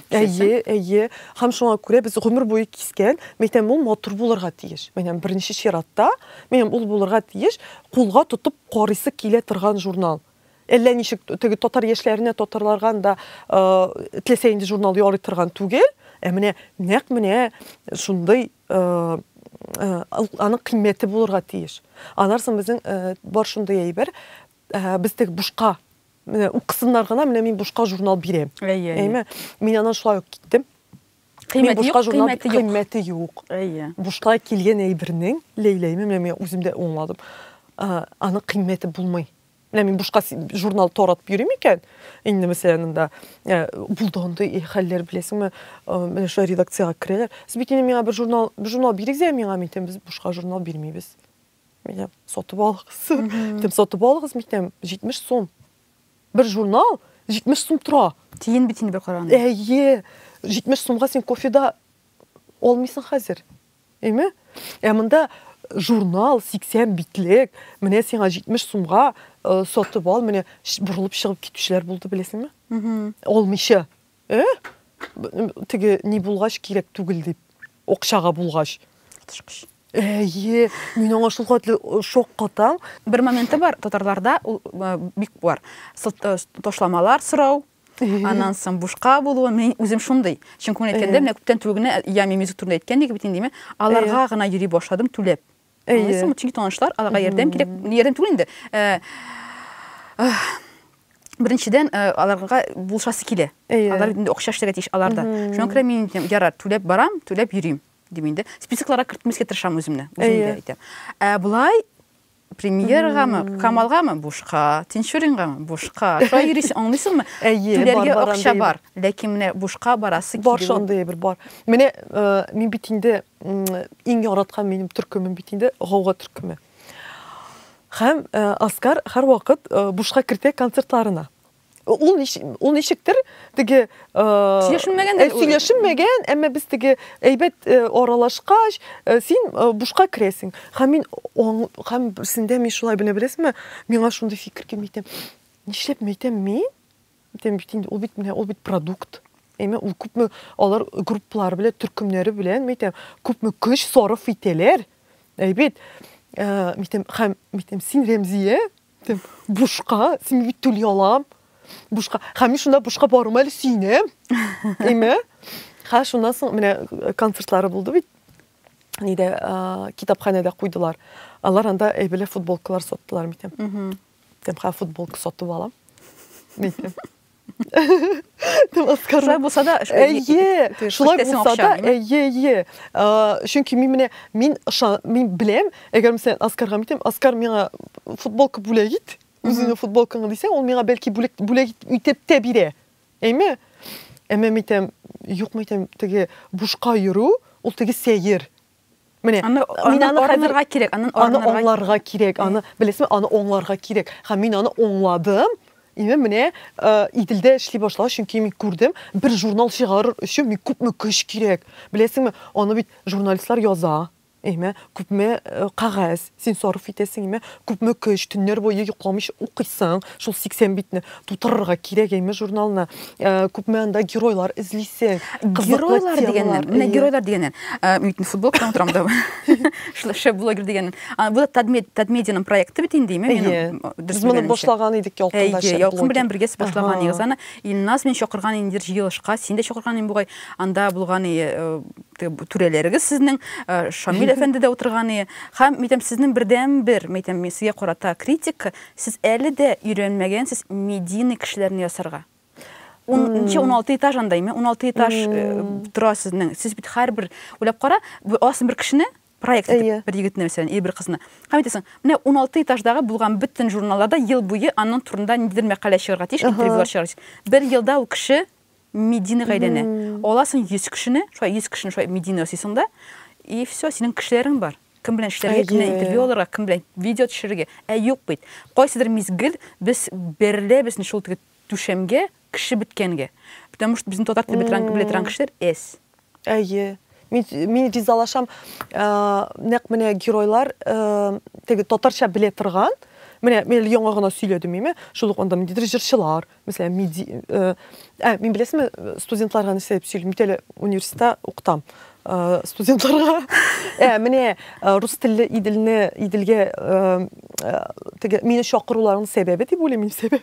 Speaker 1: Әйе, әйе.
Speaker 2: Һәм шуңа күрә без гомер буе кискән, мәйтәм, ул матур булырга тиеш. Мәйтәм, беренче чиратта, мәйтәм, ул булырга тиеш, кулга тотып карыйсы килә торган журнал. Әллә ничек теге татар яшьләренә татарларга да теләсә инде журнал ярый торган түгел. Ә менә нәкъ менә шундый аның кыйммәте булырга тиеш. Аннан соң безнең бар шундый әйбер, без теге бушка менә укысыннар гына, менә мин бушка журнал бирәм. Әйе. Әйме? Мин аннан шулай ук киттем. Кыйммәте юк, кыйммәте юк. Кыйммәте юк. Әйе. Бушка килгән әйбернең, ләйләйме, менә мин үзем дә аңладым. Аны кыйммәте булмый. Менә мин бушка журнал торатып йөрим икән, инде мәсәлән монда э, булды андый э, хәлләр беләсеңме, э, менә шулай редакциягә керәләр. Сез бит инде миңа бер журнал, бер журнал бирегез әле миңа, мин әйтәм, без бушка журнал бирмибез. Мин әйтәм, сатып алыгыз. Әйтәм, сатып алыгыз, мин әйтәм, 70 сум. Бер журнал 70 сум тора. Тиен бит инде бер караганда.
Speaker 1: Әйе,
Speaker 2: 70 сумга син кофе да алмыйсың хәзер. Әйме? Ә монда журнал 80 битлек, менә сиңа 70 сумга э, сатып ал, менә ш- борылып чыгып китүчеләр булды, беләсеңме? Алмыйча. Э? Теге ни булгач кирәк түгел дип. Окчага булгач. Тышкыч. Әйе, мин аңа шул хәтле шок катам. Бер моменты бар,
Speaker 1: татарларда ул бик бар. Ташламалар сорау, аннан соң бушка булуы, мин үзем шундый. Чөнки мин әйткәндә, менә күптән түгел генә я мимизик турында әйткән идек бит инде, аларга гына йөри башладым түләп. Аңлыйсыңмы? Чөнки танышлар, аларга ярдәм кирәк. Ярдәм түгел инде. Э, Беренчедән, э, аларга булшасы килә. Алар инде акча эшләргә тиеш аларда. Шуңа күрә мин ярар, түләп барам, түләп йөрим дим инде. Списокларга кертмәскә тырышам үземне. Үземдә әйтәм. Ә болай премьергамы, Камалгамы бушка, Тинчурингамы бушка. Шулай йөрисең, аңлыйсыңмы? Түләргә акча бар, ләкин менә бушка барасы килү. Бар шундый бер бар.
Speaker 2: Менә э, мин бит инде Иң яраткан минем төркемем бит инде гауга төркеме. Һәм э, Оскар һәрвакыт э, бушка кертә концертларына. Ул ул ничектер теге сөйләшенмәгән сөйләшенмәгән, әмма без теге әйбәт аралашкач, син бушка керәсең. Һәм мин һәм берсендә мин шулай бенә беләсеңме, миңа шундый фикер килми икән. Нишләп мәйтәм мин? Әйтәм бит инде, ул бит менә ул бит продукт. Әйме, ул күпме алар групплар белән, төркемнәре белән, мәйтәм, күпме көч сарыф итәләр. Әйбит. Э, мәйтәм, хәм, мәйтәм, син Рәмзия, мәйтәм, бушка, син бит түли алам. Бушка, хәм мин шунда бушка барым әле сөенәм. Әйме? Ха, шуннан соң менә э, концертлары булды бит. Нидә, э, китапханәдә куйдылар. Алар анда әйбәле футболкалар саттылар, мәйтәм. Тем хәл футболка сатып алам. Митем.
Speaker 1: Шулай булса да, әйе, шулай
Speaker 2: булса да, әйе, әйе. Чөнки мин менә мин ышан, мин беләм, әгәр мисән Оскарга митем, Оскар миңа футболка бүләк ит, үзеңнең футболкаңны дисәң, ул миңа бәлки бүләк бүләк итеп тә бирә. Әйме? Әмма митем, юк митем, теге бушка йөрү, ул теге сәер. Менә аны мин аны хәзергә кирәк, аны аны
Speaker 1: аңларга
Speaker 2: кирәк, аны беләсезме, аны аңларга кирәк. Һәм мин аны аңладым. Ине менә Иделдә эшли башлау, чөнки мин күрдем, бер журнал чыгарыр өчен мин күпме көч кирәк. Беләсезме, аны бит журналистлар яза. Әйме, күпме кагаз. Син сарыф итәсең име? Күпме көч, төннәр буе йокламыйча укыйсың, шул 80 битне тутырырга кирәк әйме журналны? Ә, Күпме анда геройлар эзлисең, кызыклы Геройлар темалар.
Speaker 1: дигәннән, менә Әйе. геройлар дигәннән. Ә, Мин бит инде футболка белән утырам да. Шулай шәп блогер дигәннән. А, Бу да Тадмед- Татмедианың проекты бит инде, име? Әйе. Минем м, дөрес Без моны белгәнемчә. башлаган
Speaker 2: идек ялкында Әйе, шәп Ялкын блогер. белән бергә сез Ага. башлаган
Speaker 1: идегез аны. Илназ мин чакырган инде җыелышка, син дә чакырган идең бугай. Анда булган и, э, түрәләрегез сезнең э, Шамил әфәнде дә утырган ие. Һәм мәйтәм сезнең бердән бер мәйтәм сезгә карата критик, сез әле дә өйрәнмәгән сез медийный кешеләрне ясарга. 10-16 этаж андаймы? 16 этаж э, тора сезнең. Сез бит һәрбер уйлап кара, аласың бер кешене, проект итеп, бер егетне мәсәлән, или бер кызны. Һәм әйтәсең, менә 16 этаждагы булган бөтен журналларда ел буе аның турында ниндидер мәкалә чыгарга тиеш, интервьюлар чыгарга тиеш. Бер елда ул кеше Медина гайдәне. Аласың 100 кешене, шулай 100 кешене шулай медина ясыйсың да, и все, синең кешеләрең бар. Кем белән эшләргә, кем белән интервью алырга, кем белән видео төшерергә. Ә юк бит. Кайсыдыр мизгел без бәрелә безне шул теге түшәмгә кеше беткәнгә. Потому что безнең татар телен белә торган кешеләр әз. Әйе, мин
Speaker 2: мин ризалашам. Э, нәкъ менә геройлар э, теге татарча белә торган, менә мин яңа гына сөйләдем миме, шул ук анда ниндидер җырчылар, мәсәлән, миди, э, ә, мин беләсезме, студентларга нәрсә дип сөйлим, бит әле университетта укытам э, студентларга. Ә, менә э, рус телле Иделне, Иделгә э, э, теге мине чакыруларының сәбәбе дип уйлыйм мин сәбәп.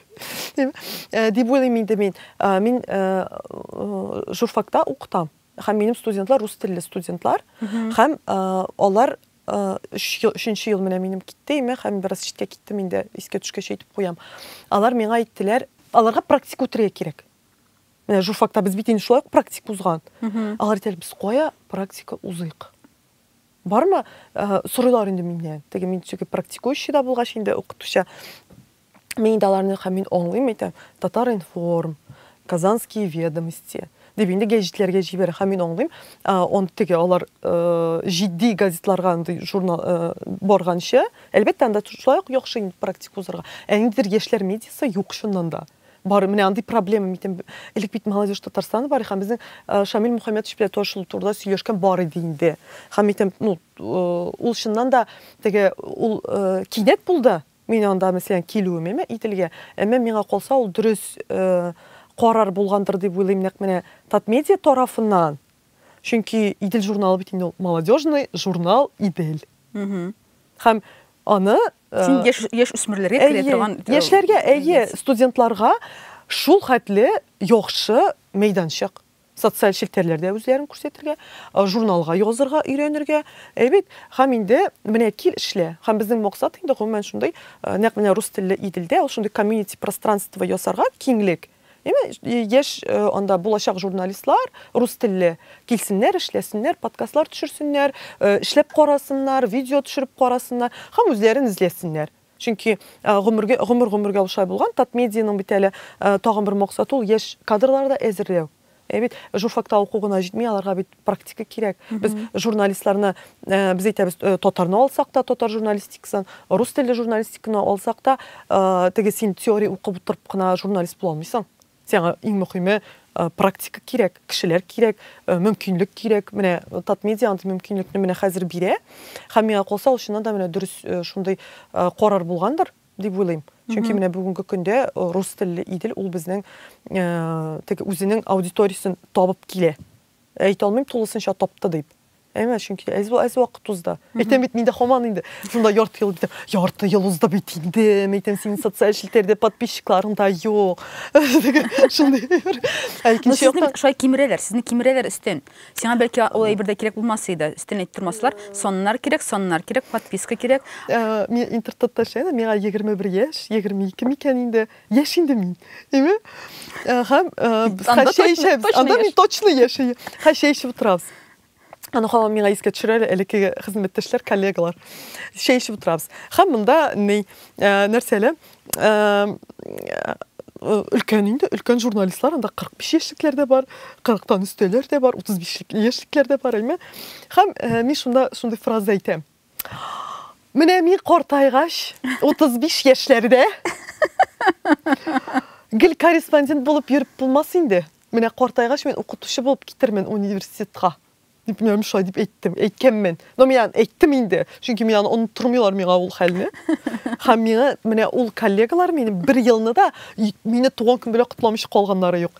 Speaker 2: Э, дип уйлыйм инде мин э, мин э, журфакта укытам һәм минем студентлар рус телле студентлар һәм алар өченче ел менә минем китте име һәм бераз читкә киттем инде искә төшкәч әйтеп куям алар миңа әйттеләр аларга практика үтәргә кирәк менә журфакта без бит инде шулай ук практика узган алар әйтәләр без кая практика узыйк бармы сорыйлар инде миннән теге мин теге практикующийда булгач инде укытучы Мин инде аларны һәм мин аңлыйм әйтәм, Татар-информ, Казанские ведомости дип инде гәҗитләргә җибәрә. Һәм мин аңлыйм, он теге алар җитди газетларга андый журнал барганчы, әлбәттә, анда шулай ук яхшы инде практика узарга. Ә ниндидер яшьләр медиасы юк чыннан да. Бар, менә андый проблема митем. Элек бит Молодежь Татарстана бар, һәм безнең Шамил Мухаммедович белән таш шул турыда сөйләшкән бар иде инде. Һәм митем, ну, ул чыннан да теге ул кинәт булды, Мин анда, мәсәлән, килүем әмма Иделгә, әмма миңа калса ул дөрес карар булгандыр дип уйлыйм нәкъ менә Татмедиа тарафыннан. Чөнки Идел журналы бит инде ул молодежный журнал Идел. Һәм аны Син яшь
Speaker 1: яшь үсмерләргә керә торган яшьләргә, әйе,
Speaker 2: студентларга шул хәтле яхшы мәйданчык. Социаль челтәрләрдә үзләрен күрсәтергә, журналга язырга өйрәнергә. Әйбәт. Һәм инде менә кил эшлә. Һәм безнең максат инде гомумән шундый, нәкъ менә рус телле Иделдә ул шундый комьюнити пространство ясарга, киңлек. Әйме, яшь анда булачак журналистлар рус телле килсеннәр, эшләсеннәр, подкастлар төшерсеннәр, эшләп карасыннар, видео төшереп карасыннар һәм үзләрен эзләсеннәр. Чөнки гомергә, гомер-гомергә ул шулай булган. Татмедианың бит әле тагын бер максаты ул яшь кадрлар да әзерләү. Ә бит журфакта уку гына җитми, аларга бит практика кирәк. Без журналистларны, э, без әйтәбез, э, татарны алсак та, татар журналистикасын, рус телле журналистиканы алсак та, э, теге син теория укып утырып кына журналист була алмыйсың. Сиңа иң мөхиме практика кирәк, кешеләр кирәк, мөмкинлек кирәк. Менә Татмедиа андый мөмкинлекне менә хәзер бирә. Һәм миңа калса, ул чыннан да менә дөрес шундый карар булгандыр дип уйлыйм. Чөнки менә бүгенге көндә рус телле Идел ул безнең теге үзенең аудиториясен табып килә. Әйтә алмыйм тулысынча тапты дип. Әйме, чөнки әз әз вакыт узды. Әйтәм бит, миндә хаман инде. Шунда ярты ел бит. Ярты ел узды бит инде. Әйтәм, синең социаль челтәрдә подписчикларың да юк. Шундый. Ә
Speaker 1: икенче яктан шулай кимерәләр, сезне кимерәләр өстен. Сиңа бәлки ул әйбер дә кирәк булмас иде. Өстен әйтеп тормаслар. Саннар кирәк, саннар кирәк, подписка кирәк. Ә, мин интертатта
Speaker 2: эшләдем, миңа 21 яшь, 22 микән инде. Яшь инде мин. Әйме? Һәм хәшәйшәбез. Анда мин точно яшәйм. Хәшәйшәп утырабыз. Аны хамам миңа искә төшерә әле элекке хезмәттәшләр, коллегалар. Чәй эчеп утырабыз. Һәм монда ни нәрсә әле? өлкән инде, өлкән журналистлар, анда 45 яшьлекләр дә бар, 40-тан өстәләр дә бар, 35 яшьлекләр дә бар, әйме. Һәм мин шунда шундый фраза әйтәм. Менә мин картайгач, 35 яшьләрдә гел корреспондент булып йөреп булмас инде. Менә картайгач мин укытучы булып китермен университетка. Дип мин шулай дип әйттем, әйткәнмен. Но мин аны әйттем инде, чөнки мин аны оныттырмыйлар миңа ул хәлне. Һәм миңа менә ул коллегалар минем бер елны да мине туган көн белән котламыйча калганнары юк.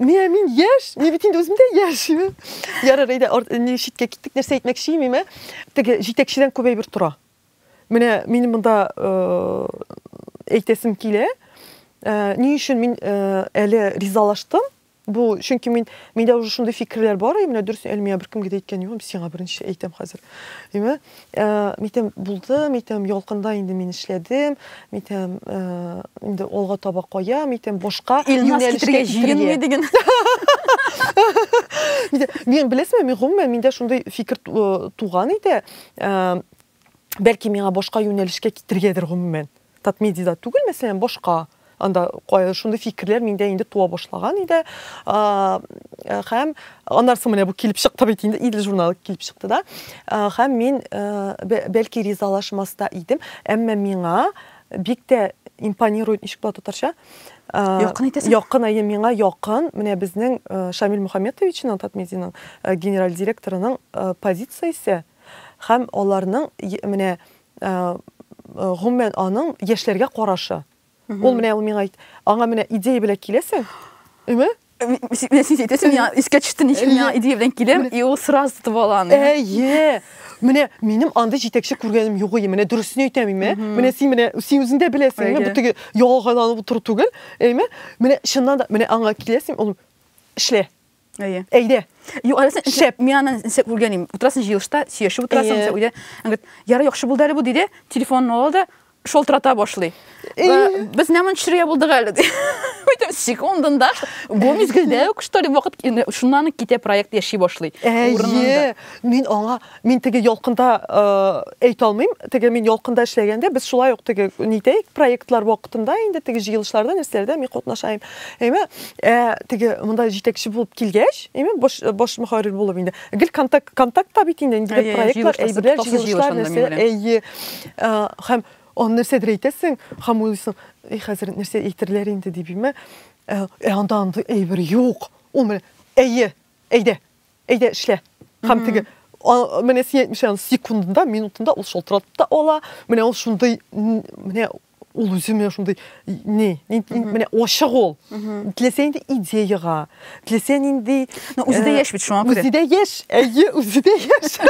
Speaker 2: Менә мин яшь, мин бит инде үзем дә яшь. Ярар, әйдә, ни читкә киттек, нәрсә әйтмәкче идем, ә? Теге җитәкчедән күп әйбер тора. Менә мин монда әйтәсем килә. Ни өчен мин әле ризалаштым? Бу, чөнки мин миндә уже шундый фикерләр бар, менә дөрес Әлмия беркемгә дә әйткән юк, сиңа беренче әйтәм хәзер. Әйме? Митем булды, митем ялкында инде мин эшләдем, митем инде алга таба кая, митем башка Илназ китергә җыенмый
Speaker 1: диген.
Speaker 2: Мин беләсезме, мин гомумән миндә шундый фикер туган иде. Бәлки миңа башка юнәлешкә китергәдер гомумән. Татмедида түгел, мәсәлән, башка. Анда шундый фикерләр миндә инде туа башлаган иде. Хәм аннарсы менә бу килеп чыкты бит инде, Идел журналы килеп чыкты да. Хәм мин бәлки ризалашмас та идем, әмма миңа бик тә импонирует ничек була татарча? Якын итәсең.
Speaker 1: Якын, әйе, миңа якын.
Speaker 2: Менә безнең Шамил Мөхәммәтовичның Татмедианың генераль директорының позициясе һәм аларның менә гомумән аның яшьләргә карашы. Ул менә ул миңа әйт, аңа менә идея белән киләсең, име? Менә син
Speaker 1: әйтәсең, миңа искә төште, ничек миңа идея белән киләм, и ул сразу тотып ала аны. Әйе.
Speaker 2: Менә минем андый җитәкче күргәнем юк иде. Менә дөресен әйтәм име? Менә син менә син үзең дә беләсең, бу теге ялганланып утыру түгел, әйме? Менә чыннан да менә аңа киләсең, ул эшлә. Әйе.
Speaker 1: Әйдә. Юк,
Speaker 2: әле син шәп.
Speaker 1: Мин аны инсә күргән идем. Утырасың җыелышта, сөйләшеп утырасың, инсә өйдә. Аңгыт, ярый яхшы булды әле бу диде. Телефонын ала да шалтырата башлый. Без нәмән төшерергә булдык әле ди. Бөтен секундында бу мизгелдә үк что ли вакыт шуннан китә проект яши башлый. Әйе.
Speaker 2: Мин аңа Мин теге ялкында әйтә алмыйм. Теге мин ялкында эшләгәндә без шулай ук теге нитәйек проектлар вакытында инде теге җыелышларда нәрсәләрдә мин катнашайм. Әйме ә, теге монда җитәкче булып килгәч, әйме баш баш мөхәррир булып инде. Гел контакт контактта бит инде инде проектлар, әйберләр, җыелышлар нәрсә. Әйе. Һәм аны нәрсәдер әйтәсең, һәм уйлыйсың, и хәзер нәрсә әйтерләр инде дип, әйме. Ә анда андый әйбер юк. Ул менә әйе, әйдә. Әйдә, эшлә. Һәм теге менә син әйтмешән секундында, минутында ул шалтыратып та ала. Менә ул шундый менә ул үзе менә шундый не, менә ачык ул. Теләсә инде идеяга, теләсә нинди Но үзе дә яшь бит шуңа
Speaker 1: күрә. Үзе дә яшь, әйе,
Speaker 2: үзе дә яшь.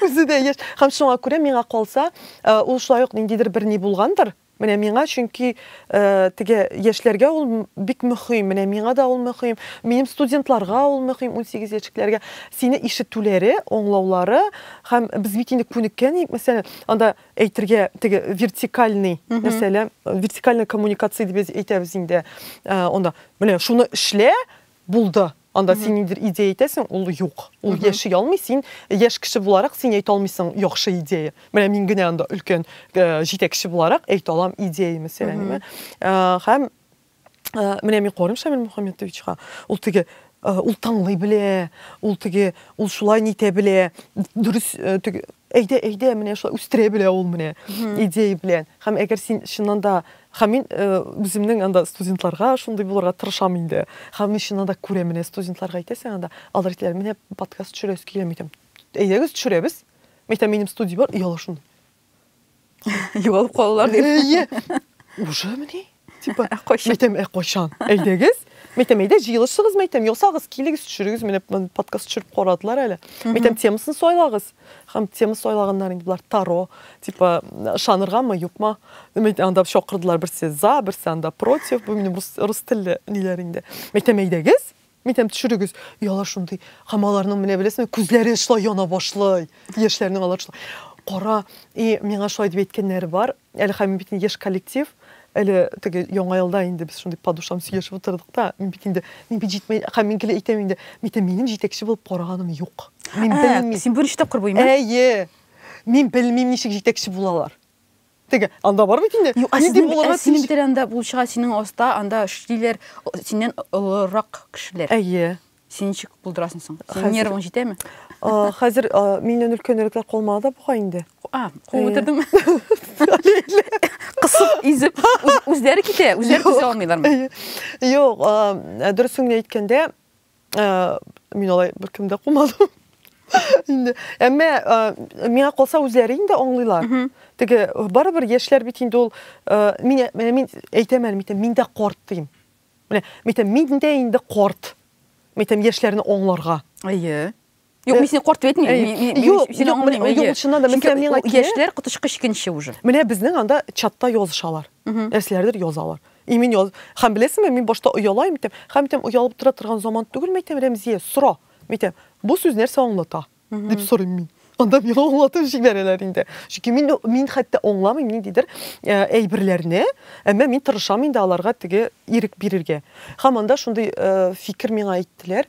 Speaker 2: Үзе дә яшь. Һәм шуңа күрә миңа калса, ул шулай ук ниндидер бер ни булгандыр, Менә миңа, чөнки теге яшьләргә ул бик мөһим, менә миңа да ул мөһим, минем студентларга ул мөһим, 18 яшьлекләргә сине ишетүләре, аңлаулары һәм без бит инде күнеккән идек, мәсәлән, анда әйтергә теге вертикальный мәсьәлә, вертикальная коммуникация дип әйтәбез инде, анда менә шуны эшлә, Булды. Анда син ниндидер идея әйтәсең, ул юк. Ул яши алмый, син яшь кеше буларак син әйтә алмыйсың яхшы идея. Менә мин генә анда өлкән э, җитәкче буларак әйтә алам идея мәсьәләне. Э, һәм э, менә мин карыйм Шамил Мухаммедовичка, ул теге ул таңлый белә, ул теге ул шулай нитә белә, дөрес Әйдә, әйдә, менә шулай үстерә белә ул менә идея белән. Һәм әгәр син чыннан да Һәм мин э, үземнең анда студентларга шундый булырга тырышам инде. Һәм мин чыннан да күрәм менә студентларга әйтәсең анда, алар әйтәләр, менә подкаст төшерәсе килә, әйтәм, әйдәгез төшерәбез. Әйтәм, минем студия бар, ояла шундый.
Speaker 1: Югалып калалар дип. Әйе.
Speaker 2: Уже мени? Типа, ә кайчан? Мәйтәм, ә кайчан? Әйдәгез. Мәйтәм, әйдә җыелышыгыз, мәйтәм, ясагыз, килегез, төшерегез, менә подкаст төшереп карадылар әле. Мәйтәм, темасын сайлагыз. Хәм тема сайлаганнар инде болар таро, типа, шаныргамы, юкма. Мәйтәм, анда чакырдылар берсе за, берсе анда против, бу минем рус, рус телле ниләр инде. Мәйтәм, әйдәгез, Минем төшерегез, оялар шундый. Һәм аларның менә беләсеңме, күзләре шулай яна башлый. Яшьләрнең алар шулай. Кара, и миңа шулай дип әйткәннәре бар. Әле хәм бит яшь коллектив. Әле теге яңа елда инде без шундый подушам сөйләшеп утырдык та, мин бит инде мин бит җитмәй, хәм мин гел әйтәм инде, митә минем җитәкче булып караганым юк. Мин белмим. Син беренче тапкыр
Speaker 1: буймы?
Speaker 2: Әйе. Мин белмим
Speaker 1: ничек
Speaker 2: җитәкче булалар. Теге, анда бар бит инде. Юк, ә сезнең ә синең бит
Speaker 1: анда булчыга синең аста, анда эшлиләр, синнән олырак кешеләр. Әйе. Син
Speaker 2: ничек
Speaker 1: булдырасың соң? Синең нервың җитәме? Хәзер
Speaker 2: миннән өлкәнрәкләр калмады да бугай инде. А, куып
Speaker 1: үтердеңме? Кысып, изеп, үзләре китә, үзләре төзә алмыйлармы? Юк,
Speaker 2: дөресен әйткәндә, Мин алай беркем дә кумадым. Инде. Әмма миңа калса үзләре инде аңлыйлар. Теге барыбер яшьләр бит инде ул мин менә мин әйтәм әле митем, мин дә корт дим. Менә митем, мин дә инде корт. Митем яшьләрне аңларга. Әйе.
Speaker 1: Юк, мин сине карт дип әйтмим. Юк, сине аңламыйм. Юк, чыннан да, мисәм миңа
Speaker 2: килә. Яшьләр коточкы
Speaker 1: чикенче уже. Менә безнең анда
Speaker 2: чатта язышалар. Нәрсәләрдер язалар. И мин яз. Хәм беләсеңме, мин башта оялайм итәм. Хәм итәм оялып тора торган заман түгел мәйтәм Рәмзия, сора. Мәйтәм, бу сүз нәрсә аңлата? дип сорыйм мин. Анда миңа аңлатып җибәрәләр инде. Чөнки мин мин хәтта аңламыйм ниндидер э, әйберләрне, әмма мин тырышам инде аларга теге ирек бирергә. Һәм анда шундый э, фикер миңа әйттеләр.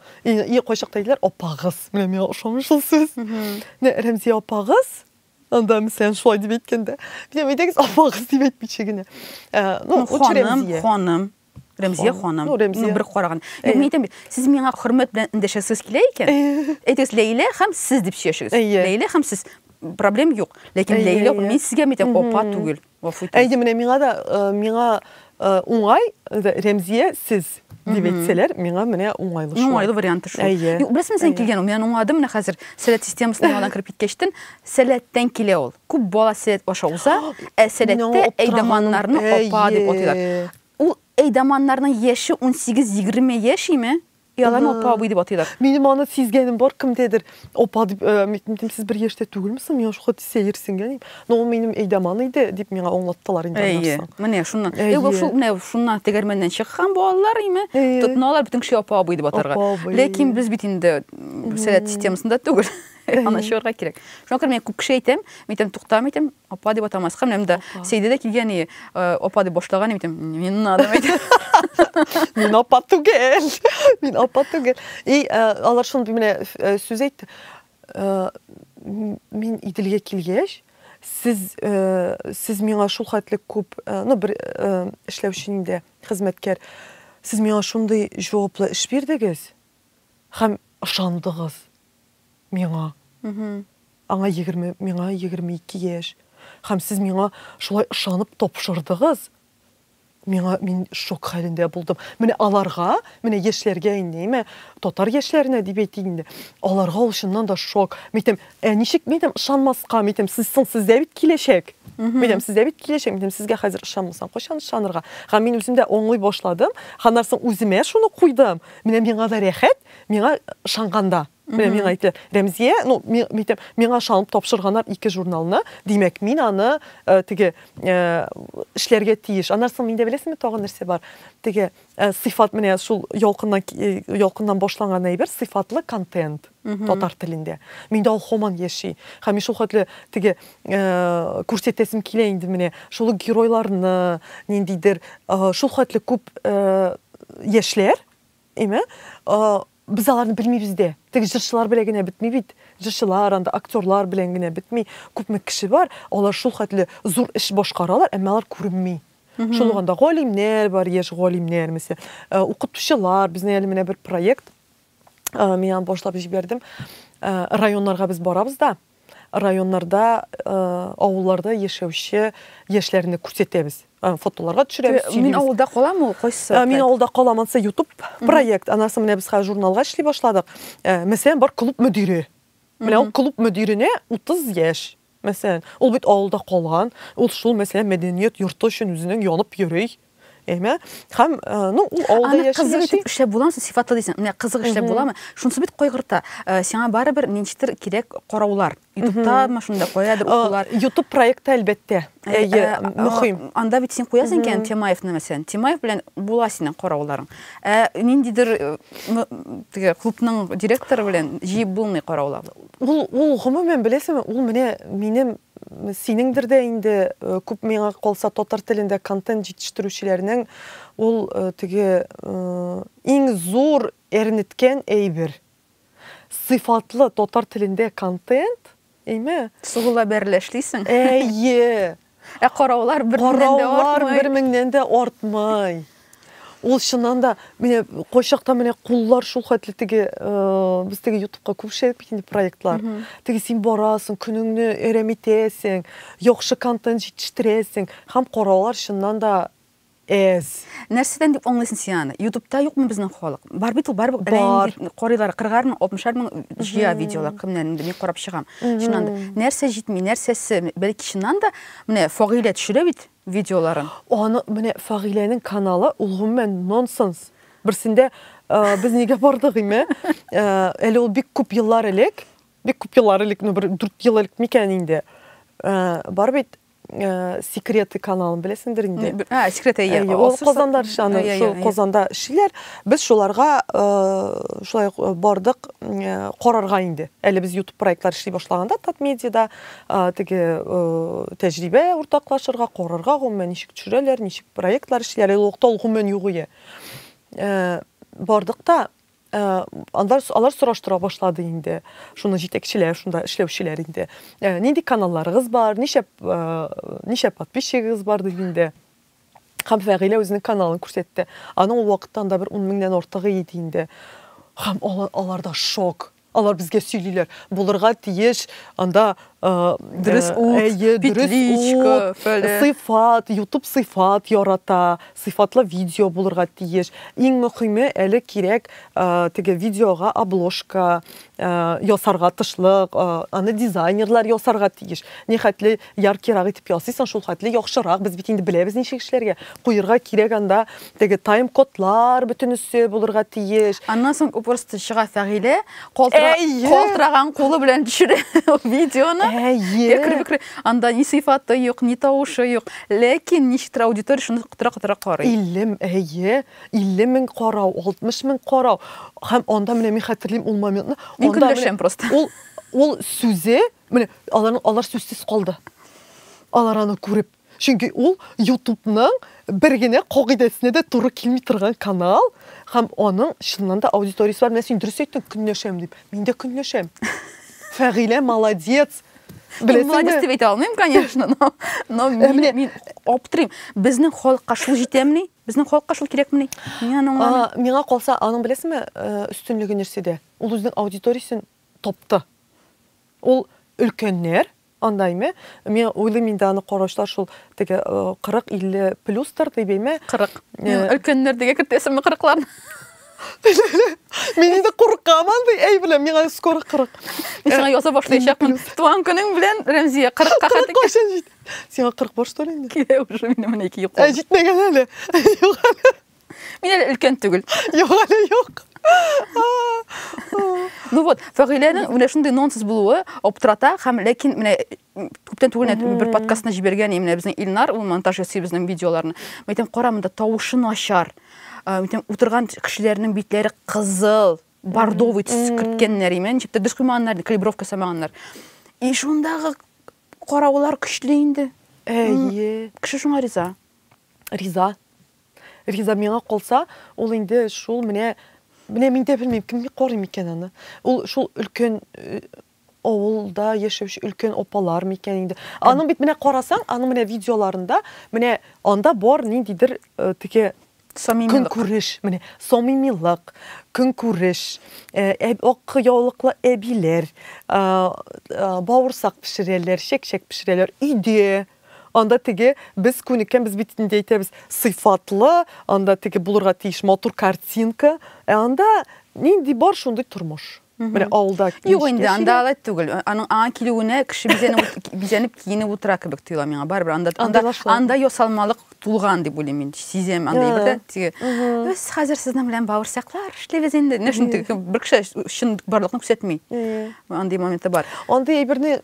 Speaker 2: И, и кайчакта әйтәләр, апагыз. Менә миңа ошамый шул сүз. Менә Рәмзия апагыз, анда мәсәлән шулай дип әйткәндә, менә әйтәгез апагыз дип әйтмичә генә. Э, ну, ну ханым, ханым.
Speaker 1: Рәмзия ханым. Ну, Рәмзия. Ну, бер караган. Юк, мин әйтәм бит, сез миңа хөрмәт белән эндәшәсез килә икән. Әйтегез, Ләйлә һәм сез дип сөйләшегез. Ләйлә һәм сез проблем юк. Ләкин Ләйлә, мин сезгә әйтәм, апа түгел. Әйдә, менә миңа
Speaker 2: да миңа уңай Рәмзия сез дип әйтсәләр, миңа менә уңайлы шул. Уңайлы варианты шул. Әйе.
Speaker 1: Беләсең, сен килгән ул. Мин уңадым менә хәзер. Сәләт системасына яңадан кереп киткәчтен, сәләттән килә ул. Күп бала сәләт аша уза, ә сәләттә әйдаманнарны апа дип атыйлар. Ул әйдаманнарның яше 18-20 яшиме? Ояламы апа абый дип атыйлар. Минем аны сизгәнем
Speaker 2: бар, кемдәдер апа дип, митмитем сез бер яшьтә түгелме соң, миңа шука тисә ерсенгән дип. Но ул минем әйдәман иде дип миңа аңлаттылар инде аннан соң. Менә шуннан.
Speaker 1: Әйе, бу шул менә шуннан тегермәннән чыккан балалар име? Тотыналар бөтен кеше апа абый дип атарга. Ләкин без бит инде сәләт системасында түгел. Аны чыгарга кирәк. Шуңа күрә мин күп кеше әйтәм, митем туктам итем, Апа дип атамаска, менә монда Сәйдә дә килгән и, апа дип башлаган идем, не надо әйтә. Мин апа
Speaker 2: түгел. Мин апа түгел. И алар шундый менә сүз әйтте. Мин Иделгә килгәч, сез сез миңа шул хәтле күп, ну бер эшләүче инде, хезмәткәр. Сез миңа шундый җаваплы эш бирдегез һәм ышандыгыз. миңа. Аңа егерме, миңа егерме ике яшь. Һәм сез миңа шулай ышанып тапшырдыгыз. Миңа мин шок хәлендә булдым. Менә аларга, менә яшьләргә инде, әйме, татар яшьләренә дип әйтик инде. Аларга ул чыннан да шок. Митем, ә ничек митем ышанмаска, митем сез соң сездә бит киләчәк. Митем сездә бит киләчәк, митем сезгә хәзер ышанмасаң, кайчан ышанырга? Һәм мин үзем дә аңлый башладым. Һәм нәрсә үземә шуны куйдым. Менә миңа да рәхәт, Миңа ышанганда, менә миңа әйтте, Рәмзия, ну, митем, миңа ышанып тапшырганнар ике журналны, димәк, мин аны э, теге э, эшләргә тиеш. Аннан соң миндә беләсеңме тагын нәрсә бар? Теге э, сыйфат менә шул ялкыннан ялкыннан башланган әйбер сыйфатлы контент татар телендә. Миндә ул һаман яши. Һәм шул хәтле теге күрсәтәсем килә инде менә шул геройларны, ниндидер шул хәтле күп яшьләр Әйме? Без аларны белмибез дә. Теге җырчылар белән генә бетми бит. Җырчылар анда, актерлар белән генә бетми. Күпме кеше бар, алар шул хәтле зур эш башкаралар, әмма алар күренми. Шул ук анда галимнәр бар, яшь галимнәр, мисә, укытучылар, безнең әле менә бер проект, мин аны башлап җибәрдем. Районнарга без барабыз да, районнарда, авылларда яшәүче яшьләрне күрсәтәбез. Фотоларга төшерәбез, сөйлибез. Мин авылда калам ул,
Speaker 1: кайсы? Мин авылда калам, анысы
Speaker 2: ютуб проект. Анасы менә без хәзер журналга эшли башладык. Мәсәлән, бар клуб мөдире. Менә ул клуб мөдиренә 30 яшь. Мәсәлән, ул бит авылда калган, ул шул мәсәлән мәдәният йорты өчен үзенең янып йөри. Әйме? Хәм, э, ну, ул алда яши. Аны кызык итеп эшләп
Speaker 1: буламы? Сифатлы
Speaker 2: дисең.
Speaker 1: Менә кызык эшләп буламы? Шунсы бит кайгырта. Э, сиңа барыбер ничектер кирәк караулар. Ютубта машинда куядыр э, укулар. Ютуб проекты
Speaker 2: әлбәттә. Әйе, мөхим. Анда бит син куясың
Speaker 1: икән Темаевны мәсәлән. Темаев белән була синең карауларың. Ә ниндидер теге клубның директоры белән җыеп булмый караулар. Ул ул
Speaker 2: гомумән беләсеңме? Ул менә минем Синеңдер дә инде күп миңа калса татар телендә контент җитештерүчеләрнең ул теге иң зур әрнеткән әйбер. Сыйфатлы татар телендә контент, әйме? Сугыла бәрелә
Speaker 1: эшлисең. Әйе.
Speaker 2: Ә караулар
Speaker 1: бер меңнән дә артмый. Караулар
Speaker 2: бер меңнән дә артмый. Ул чыннан да менә кайчакта менә куллар шул хәтле теге без теге ютубка күп эшләдек бит инде проектлар. Теге син барасың, көнеңне әрәм итәсең, яхшы контент җитештерәсең һәм караулар чыннан да Эс.
Speaker 1: Нәрсәдән дип аңлыйсың син аны? Ютубта юкмы безнең халык? Бар бит ул, бар карыйлар, 40 мең, 60 мең җыя видеолар, кемнән инде мин карап чыгам. Чыннан да нәрсә җитми, нәрсәсе, бәлки чыннан да менә Фагыйлә төшерә бит, видеоларын. Аны менә
Speaker 2: Фагиләнең каналы, ул гомумән нонсенс. Берсендә без нигә бардык име? Әле ул бик күп еллар элек, бик күп еллар элек, ну бер 4 ел элек микән инде? Бар бит Э, секреты каналын беләсеңдер инде ә секрет әйе ул
Speaker 1: казанда шаны
Speaker 2: шул казанда эшлиләр без шуларга э, шулай э, бардык карарга инде әле без ютуб проектлар эшли башлаганда татмедиада теге тәҗрибә уртаклашырга, карарга, гомумән ничек төшерәләр, ничек проектлар эшлиләр, ул вакытта ул гомумән юк иде. Бардык та алар, алар сораштыра башлады инде. Шуны җитәкчеләр, шунда эшләүчеләр инде. Нинди каналларыгыз бар, ничә ничә подписчигыгыз бар дип инде. Һәм Фәгыйлә үзенең каналын күрсәтте. Аның ул вакытта анда бер ун меңнән артыгы иде инде. Һәм алар, аларда шок. Алар безгә сөйлиләр, булырга тиеш анда э, Дөрес э, ут, әйе, дөрес петличка, ут, фәле. сыйфат, YouTube сыйфат ярата, сыйфатлы видео булырга тиеш. Иң мөһиме әле кирәк э, теге видеога обложка, Э, ясарга тышлык э, аны дизайнерлар ясарга тиеш ни хәтле яркирак итеп ясыйсың шул хәтле яхшырак без бит инде беләбез ничек эшләргә куерга кирәк анда теге тайм кодлар бөтенесе булырга тиеш аннан соң просто
Speaker 1: чыга фәгыйлә калтыраган кулы белән төшерә видеоны әйе анда ни сыйфаты юк ни тавышы юк ләкин ничектер аудитория шуны котыра котыра карый илем әйе
Speaker 2: 50 мең карау, 60 мең карау. Һәм анда менә мин хәтерлим ул моментны. Мин көнләшәм просто.
Speaker 1: Ул ул
Speaker 2: сүзе, менә алар алар сүзсез калды. Алар аны күреп. Чөнки ул YouTube-ның бер генә кагыйдәсенә дә туры килми торган канал һәм аның чыннан да аудиториясе бар. Менә син дөрес әйттең, көнләшәм дип. Мин дә көнләшәм. Фәгыйлә молодец. Беләсеңме? Молодец
Speaker 1: дип әйтә алмыйм, конечно, но но мин, мин аптырыйм. Безнең халыкка шул җитәмени? Безнең халыкка шул кирәкмени? Мин аны аңламыйм. Миңа
Speaker 2: калса, аның беләсеңме, өстенлеге нәрсәдә? Ул үзенең аудиториясен тапты. Ул өлкәннәр, анда әйме, мин уйлыйм инде аны караучылар шул теге 40-50 плюстыр дип әйме. 40.
Speaker 1: Өлкәннәр дигә кертәсеңме 40-ларны?
Speaker 2: Мин инде куркам андый әй белән, миңа скоро 40. Мин сиңа яза
Speaker 1: башлаячакмын. Туган көнең белән, Рәмзия, 40-ка хәтле. 40 кайчан җит? Сиңа
Speaker 2: 40 бар что ли инде? Килә уже минем менә ике
Speaker 1: йоклы. Ә җитмәгән әле.
Speaker 2: Юк әле. Мин әле өлкән
Speaker 1: түгел. Юк әле, юк. Ну вот, Фәгыйләнең менә шундый нонсенс булуы аптырата һәм ләкин менә күптән түгел инде бер подкастына җибәргән менә безнең Илнар, ул монтаж ясый безнең видеоларны. Мин әйтәм, кара монда тавышы начар. Э, мин әйтәм, утырган кешеләрнең битләре кызыл, бордовый төс керткәннәр, имән, чиптә дус куймаганнар, калибровка самаганнар. И шундагы Караулар көчле инде. Әйе. Кеше шуңа риза. Риза.
Speaker 2: Риза миңа калса, ул инде шул менә менә мин дә белмим, кем карый микән аны. Ул шул өлкән э, авылда яшәүче өлкән апалар микән инде. Аның бит менә карасаң, аның менә видеоларында менә анда бар ниндидер э, теге Самимилык. Көнкүреш, менә, самимилык, көнкүреш, ак яулыклы әбиләр, бавырсак пешерәләр, чәк-чәк пешерәләр, өйдә, анда теге без күнеккән, без бит инде әйтәбез, сыйфатлы, анда теге булырга тиеш матур картинка, ә анда нинди бар, шундый тормыш. Менә алда Юк инде, анда алай
Speaker 1: түгел. Аның аңа килүенә кеше бизәнеп бизәнеп киенеп утыра кебек тоела миңа. Барыбер анда анда анда ясалмалык тулган дип уйлыйм мин. Сизәм анда бер теге. Без хәзер сезнең белән бавырсаклар эшлибез инде. Менә шундый бер кеше чын барлыкны күрсәтми. Андый моменты бар. Андый әйберне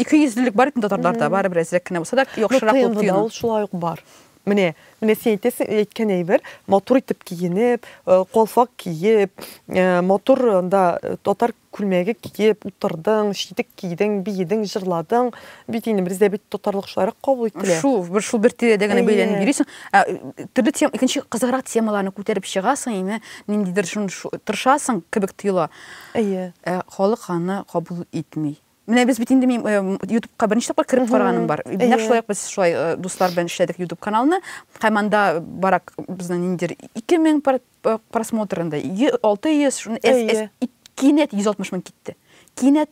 Speaker 2: икейөзлелек
Speaker 1: бар бит татарларда, барыбер әзрәк кенә булса да, яхшырак булып тоела. Ул шулай ук бар.
Speaker 2: Менә, менә син әйтәсең, әйткән әйбер, матур итеп киенеп, э, калфак киеп, э, матур анда э, татар күлмәге киеп утырдың, читек кидең, биедең, җырладың. Бит инде бездә бит татарлык шуларак кабул ителә. Шул, бер шул бер тирәдә
Speaker 1: генә бәйләнеп йөрисең. Ә төрле тем, икенче кызыграк темаларны күтәреп чыгасың, инде ниндидер шун тырышасың кебек тоела. Әйе. Ә халык аны кабул итми. Менә без бит инде мин ютубка беренче тапкыр кереп караганым бар. Нәкъ шулай ук без шулай дуслар белән эшләдек ютуб каналны. Һәм анда барак безнең ниндидер 2000 просмотр инде. 600 шуны кинәт 160 мең китте. Кинәт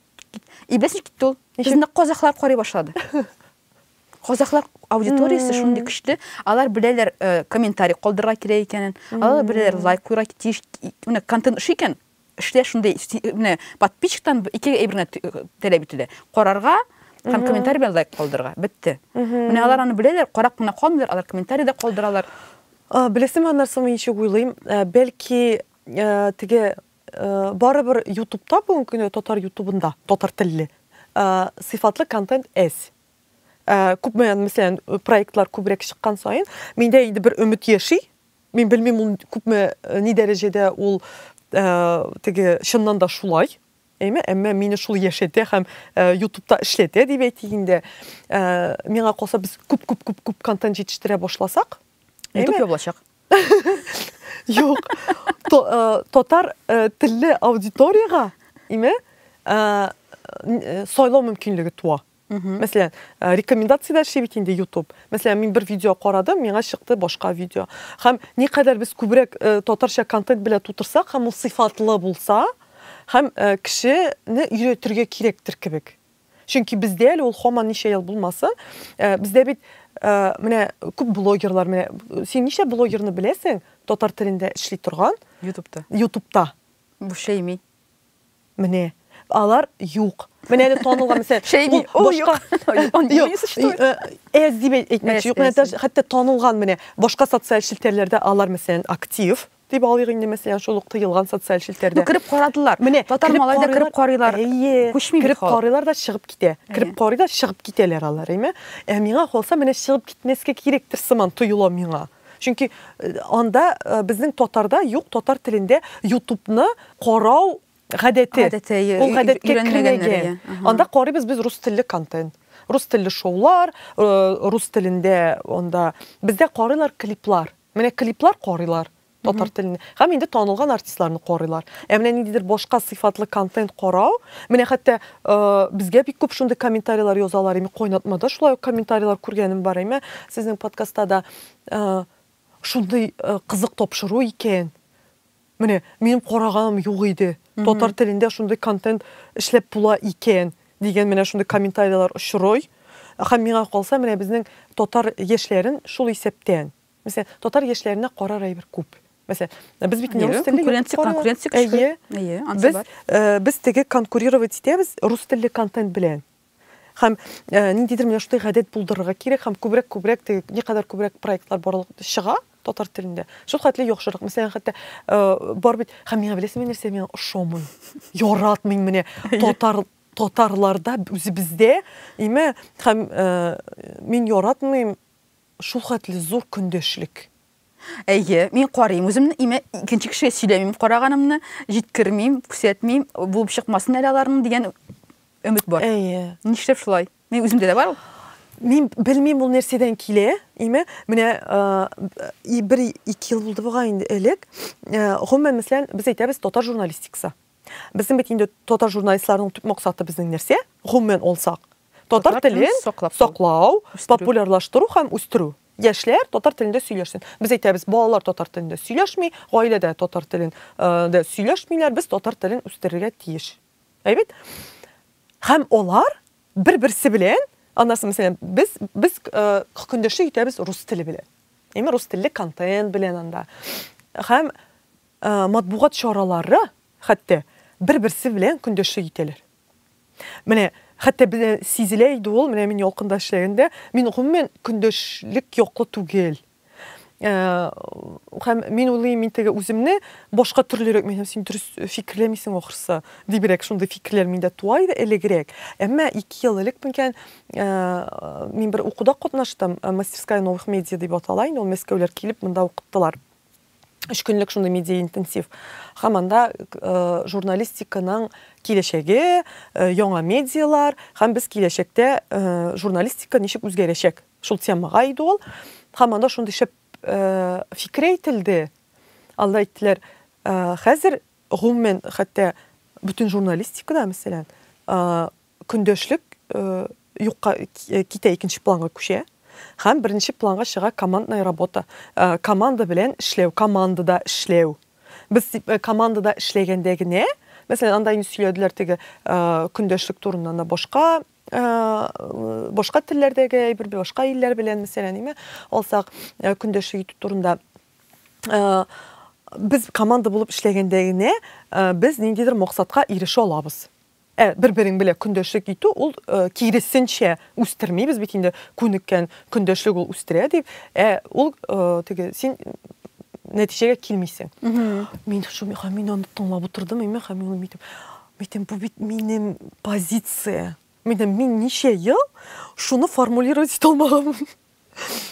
Speaker 1: и беләсез китте ул. Безне казахлар карый башлады. Казахлар аудиториясе шундый көчле, алар беләләр комментарий калдырырга кирәк икәнен, алар беләләр лайк куйырга тиеш, контент шикен. Эштә шундый менә подписчиктан ике әйбер генә таләп ителә. Карарга һәм комментарий белән лайк калдырырга. Бетте. Менә алар аны беләләр, карап кына калмыйлар, алар комментарий да калдыралар. Беләсеңме,
Speaker 2: аннарсы мин ничек уйлыйм, бәлки теге барыбер ютубта бүгенге көндә татар ютубында татар телле сыйфатлы контент әз. Күпме, мәсәлән, проектлар күбрәк чыккан саен, миндә инде бер өмет яши, Мин белмим, ул күпме э, ни дәрәҗәдә ул э, теге чыннан да шулай. Әйме, әмма мине шул яшәтә һәм э, ютубта эшләтә дип әйтик инде. Э, миңа калса без күп күп күп күп контент җитештерә башласак, Ютуб ябылачак. Юк. Э, татар э, телле аудиторияга име э, сайлау мөмкинлеге туа. Мәсәлән, э, рекомендацияләр эшли бит инде YouTube. Мәсәлән, мин бер видео карадым, миңа чыкты башка видео. Һәм никадәр без күбрәк э, татарча контент белән тутырсак һәм ул сыйфатлы булса, һәм э, кешене өйрәтергә кирәктер кебек. Чөнки бездә әле ул һаман ничә ел булмасын, э, бездә бит э, менә күп блогерлар, менә син ничә блогерны беләсең татар телендә эшли торган? Ютубта. Ютубта. Бушейми.
Speaker 1: Менә.
Speaker 2: Алар юк. Менә әле танылган мисал. Шәйни, ул юк. Он не существует. Эс дип әйтмәкче юк. Менә хәтта танылган менә башка социаль челтәрләрдә алар мәсәлән актив дип алыйк инде мәсәлән шул ук тыелган социаль челтәрдә. Кереп карадылар. Менә
Speaker 1: татар малай да кереп карыйлар. Әйе. Күчми кереп
Speaker 2: карыйлар да чыгып китә. Кереп карый да чыгып китәләр алар, әйме? Ә миңа калса менә чыгып китмәскә кирәктер сыман тоела миңа. Чөнки анда безнең татарда юк татар телендә ютубны карау гадәте. Гадәте, ие, Ул гадәткә өйрәнмәгәннәр, кермәгән. ие. Аһа. Анда карыйбыз без рус телле контент. Рус телле шоулар, э, рус телендә анда бездә карыйлар клиплар. Менә клиплар карыйлар татар телендә. Һәм инде танылган артистларны карыйлар. Ә менә ниндидер башка сыйфатлы контент карау, менә хәтта Э, безгә бик күп шундый комментарийлар язалар име кайнатмада шулай ук комментарийлар күргәнем бар име сезнең подкастта да э, шундый э, кызык тапшыру икән менә минем караганым юк иде татар телендә шундый контент эшләп була икән дигән менә шундый комментарийлар очрый һәм миңа калса менә безнең татар яшьләрен шул исәптән Мәсәлән, татар яшьләренә карар әйбер күп. Мәсәлән, без бит не рус телле конкуренция, конкуренция көчле. Әйе,
Speaker 1: ансы бар.
Speaker 2: Без теге конкурировать итәбез рус телле контент белән. Хәм ниндидер менә шундый гадәт булдырырга кирәк, хәм күбрәк күбрәк теге ни кадәр күбрәк проектлар барлык чыга татар телендә. Шул хәтле яхшырак. Мәсәлән, хәтта бар бит, хәм миңа беләсең нәрсә миңа ошамый. Яратмыйм менә татар татарларда үзебездә, име, хәм мин яратмыйм Шул хәтле зур көндәшлек. Әйе,
Speaker 1: мин карыйм үземне, имә икенче кешегә сөйләмим караганымны, җиткермим, күрсәтмим, булып чыкмасын әле аларның дигән өмет бар. Әйе. Нишләп шулай? Мин үземдә дә бар ул. Мин
Speaker 2: белмим ул нәрсәдән килә, имә, менә бер ике ел булды бугай инде элек, гомумән, мәсәлән, без әйтәбез татар журналистикасы. Безнең бит инде татар журналистларының төп максаты безнең нәрсә? Гомумән алсак, татар телен саклау, популярлаштыру һәм үстерү. Яшьләр татар телендә сөйләшсен. Без әйтәбез, балалар татар телендә сөйләшми, гаиләдә татар телен дә сөйләшмиләр, без татар телен үстерергә тиеш. Әйбәт. Һәм алар бер-берсе белән, аннасы мәсәлән, без без хөкендәшлек итәбез рус теле белән. Әйме рус телле контент белән анда. Һәм Матбугат чаралары хәтта бер-берсе белән көндәшлек итәләр. Менә хәтта бездә сизелә иде ул, менә мин Ялкында эшләгәндә, мин гомумән көндәшлек яклы түгел. Һәм мин уйлыйм, мин теге үземне башка төрлерәк, мин һәм син дөрес фикерләмисең ахрысы, дибрәк шундый фикерләр миндә туа иде элегрәк. Әмма ике ел элек микән, мин бер укуда катнаштым, Мастерская новых медиа дип атала инде ул, мәскәүләр килеп монда укыттылар. Өч көнлек шундый медиа интенсив. Һәм анда журналистиканың киләчәге, яңа медиалар һәм без киләчәктә журналистика ничек үзгәрәчәк. Шул темага иде ул. Һәм анда шундый шәп фикер әйтелде. Алар әйттеләр, хәзер гомумән хәтта бөтен журналистикада, мәсәлән, көндәшлек юкка китә, икенче планга күчә һәм беренче планга чыга командная работа. Команда белән эшләү, командада эшләү. Без командада эшләгәндә генә, мәсәлән, анда инде сөйләделәр теге көндәшлек турында да башка башка телләрдәге әйбер, башка илләр белән, мәсәлән, име, алсак, көндәшлек итү турында без команда булып эшләгәндә генә без ниндидер максатка ирешә алабыз. Ә бер-берең белән көндәшлек итү ул киресенчә үстерми, без бит инде күнеккән, көндәшлек ул үстерә дип, ә ул теге син нәтиҗәгә килмисең. Мин шул миха мин аны тыңлап утырдым, мин ха мин митем. Митем бу бит минем позиция. Митем мин ничә ел шуны формулировать итә алмаган.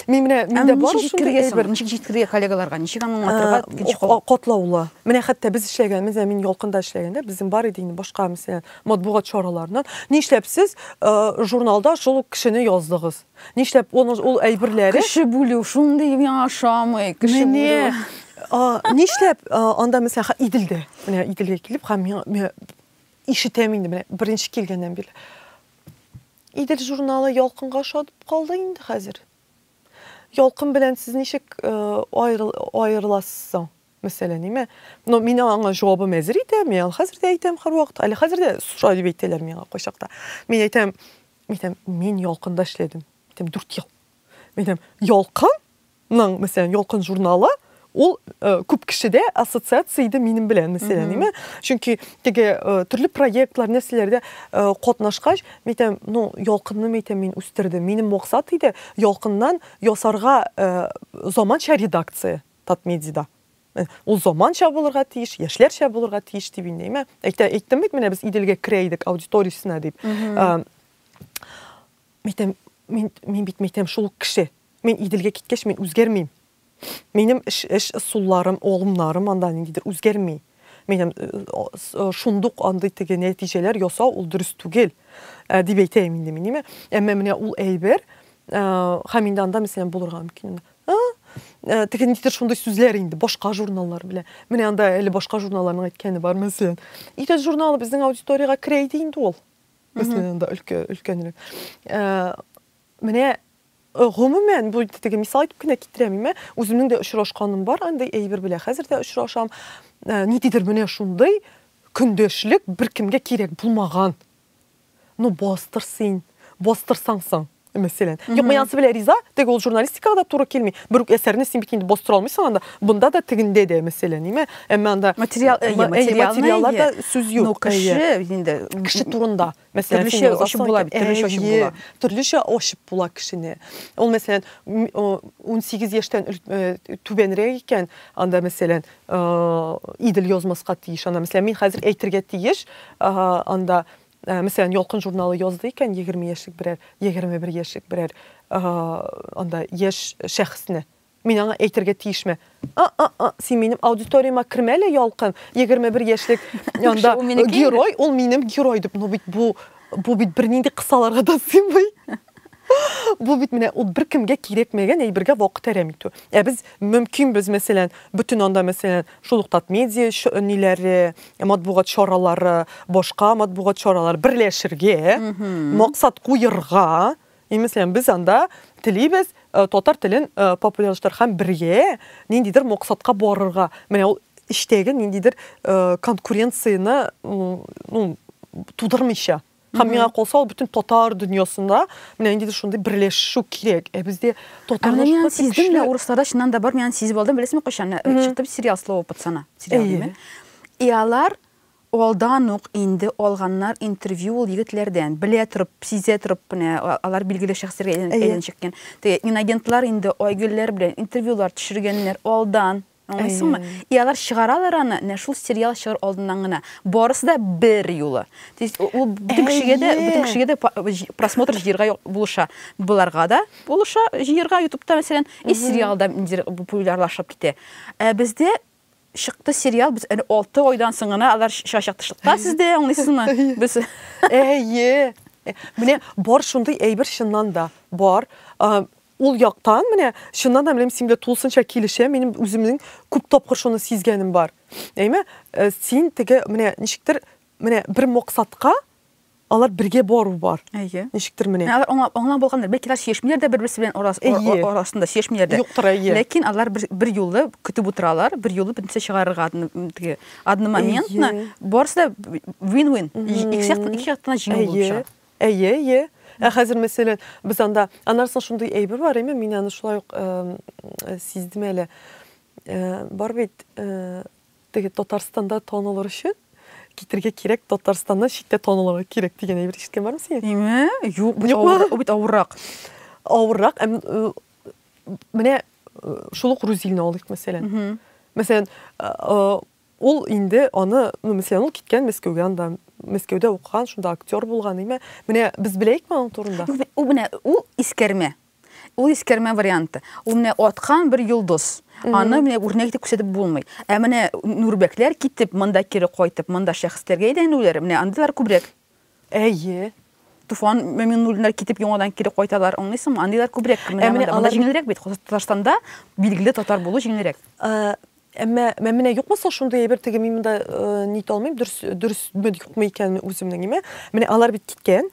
Speaker 2: Мин менә миндә бар ул шундый әйбер. Ничек җиткерергә коллегаларга?
Speaker 1: Ничек аны аңлатырга? Икенче кол. Катлаулы. Менә хәтта
Speaker 2: без эшләгән, менә мин ялкында эшләгәндә, безнең бар иде инде башка мәсәлән матбугат чараларыннан. Нишләп сез журналда шул ук кешене яздыгыз? Нишләп ул ул әйберләре? Кеше бүлү шундый миңа ошамый. Кеше бүлү. Нишләп анда мәсәлән Иделдә, менә Иделгә килеп, һәм миңа ишетәм инде менә беренче килгәннән бирле. Идел журналы Ялкынга ошатып калды инде хәзер. Ялкын белән сез ничек э, аерыласыз соң? Мәсәлән, ниме? Но мин аңа җавабым әзер итә, мин аны хәзер дә әйтәм һәрвакыт. Әле хәзер дә суша дип әйтәләр миңа кайчакта. Мин әйтәм, мин әйтәм, мин Ялкында эшләдем. Әйтәм, 4 ел. Минем Ялкын ның, мәсәлән, Ялкын журналы, ул э, күп кешедә ассоциация иде минем белән, мәсәлән, әйме. Чөнки теге э, төрле проектлар, нәрсәләрдә э, катнашкач, мәйтәм, ну, Ялкынны мәйтәм мин үстердем. Минем максат иде Ялкыннан ясарга э, заманча редакция Татмедида. Э, Ул заманча булырга тиеш, яшьләрчә булырга тиеш дип инде, әйме. Әйтә әйттем бит менә без Иделгә керә идек аудиториясенә дип. Э, Мәйтәм, мин, мин бит, мәйтәм, шул ук кеше. Мин Иделгә киткәч, мин үзгәрмим. Минем эш, эш ысулларым, алымнарым анда ниндидер үзгәрми. Мәйтәм, шундук андый теге нәтиҗәләр ясау ул дөрес түгел, ә, дип әйтәем инде мин, димә. Әмма менә ул әйбер, ә, һәм инде анда, мәсәлән, булырга мөмкин. А, ә, теге ниндидер шундый сүзләр инде башка журналлар белән. Менә анда әле башка журналларның әйткәне бар, мәсәлән. Идел журналы безнең аудиториягә керә иде инде ул. Без синең анда өлкәнрәк. Э, менә э, гомумән бу теге мисал итеп кенә китерәм имә үземнең дә очрашканым бар андый әйбер белән хәзер дә очрашам э, ниндидер менә шундый көндәшлек беркемгә кирәк булмаган ну бастыр син бастырсаң соң Мәсәлән. Юк, мин анысы белән риза, теге ул журналистикага да туры килми. Бер үк әсәрне син бит инде бастыра алмыйсың анда. Бында да тегендә дә мәсәлән, ниме? Әмма анда материал, э, материалларда сүз юк. Ну, кеше инде кеше турында. Мәсәлән, төрлечә ачып була бит,
Speaker 1: төрлечә ачып була. Төрлечә
Speaker 2: ачып була кешене. Ул мәсәлән 18 яшьтән э, түбәнрәк икән, анда мәсәлән, э, идел язмаска тиеш. Анда мәсәлән, мин хәзер әйтергә тиеш, анда Мәсәлән, Ялкын журналы язды икән, егерме яшьлек берәр, егерме бер яшьлек берәр анда яшь шәхесне. Мин аңа әйтергә тиешме? А-а-а, син минем аудиторияма кермә әле, Ялкын. Егерме бер яшьлек анда герой, ул минем герой дип. Ну бит бу бу бит бернинди кысаларга да сыймый. Бу бит менә ул беркемгә кирәкмәгән әйбергә вакыт әрәм итү. Ә без мөмкинбез, мәсәлән, бөтен анда, мәсәлән, Шул ук Татмедиа ниләре, матбугат чаралары, башка матбугат чаралары берләшергә, максат куерга, имеслән без анда телибез э, татар телен э, популярлаштырырга һәм бергә ниндидер максатка барырга. Менә ул эчтәге ниндидер э, конкуренцияне ну, тудырмыйча. Һәм миңа калса, ул бөтен татар дөньясында менә инде шундый берләшү кирәк. Ә бездә татар Менә мин сиздем дә, урысларда
Speaker 1: чыннан да бар, мин аны сизеп алдым, беләсезме кайчан? Чыкты сериал Слово пацана. Сериал диме? И алар алдан ук инде алганнар интервью ул егетләрдән. Белә торып, сизә торып менә алар билгеле шәхесләргә әйләнешкән. Теге инагентлар инде Айгөлләр белән интервьюлар төшергәннәр алдан. Аңлыйсыңмы? И алар чыгаралар аны нә шул сериал чыгар алдыннан гына. Барысы да бер юлы. То есть ул бөтен кешегә дә, бөтен кешегә дә просмотр җыерга булыша. Боларга да булыша җыерга ютубта мәсәлән, и сериал да ниндидер популярлашып китә. Ә бездә чыкты сериал, без әле 6 айдан соң гына алар чыгачак тышлыкта сездә, аңлыйсызмы? Без Әйе.
Speaker 2: Менә бар шундый әйбер чыннан да. Бар. Ул яктан, менә, чыннан да, мин синең белән тулысынча килешәм, минем үземнең күп тапкыр шуны сизгәнем бар. Әйме, э, син теге, менә, ничектер, менә бер максатка алар бергә бару бар. Әйе. Ничектер менә. Алар аңлап, аңлап булгандыр. Бәлки
Speaker 1: алар сөйләшмиләр дә бер-берсе белән арас, арасында сөйләшмиләр дә. Юктыр, әйе. Ләкин алар
Speaker 2: бер, бер
Speaker 1: юлы көтеп утыралар, бер юлы бөтенсә чыгарырга теге одномоментно. Барысы да win-win. Икесе яктан, икесе яктан җиңү булып чыга. Әйе, әйе.
Speaker 2: Ә хәзер, мәсәлән, без анда, аннан соң шундый әйбер бар, әйме, мин аны шулай ук сиздем әле. Бар бит, теге Татарстанда танылыр өчен китергә кирәк, Татарстаннан читтә танылырга кирәк дигән әйбер ишеткән бармы син? Әйме, юк, бит
Speaker 1: авыр, бит авыррак. Авыррак,
Speaker 2: менә шул ук Рузилне алыйк, мәсәлән. Мәсәлән, Ул инде аны, ну, мәсәлән, ул киткән Мәскәүгә, анда Мәскәүдә укыган, шунда актер булган, әйме? Менә без беләекме аның турында? Ну, бит ул менә ул
Speaker 1: искәрмә. Ул искәрмә варианты. Ул менә аткан бер йолдыз. Аны менә үрнәк итеп күрсәтеп булмый. Ә менә Нурбәкләр китеп, монда кире кайтып, монда шәхесләргә әйләнүләре, менә андыйлар күбрәк. Әйе. Туфан Мөминуллиннар китеп яңадан кире кайталар, аңлыйсыңмы? Андыйлар күбрәк кемнәр менә алар җиңелрәк бит. Татарстанда билгеле татар булу җиңелрәк. Әмма
Speaker 2: менә юкмы соң шундый әйбер теге мин монда э, нит алмыйм, дөрес дөресме юкмы икәнме үземнең име? Менә алар бит киткән,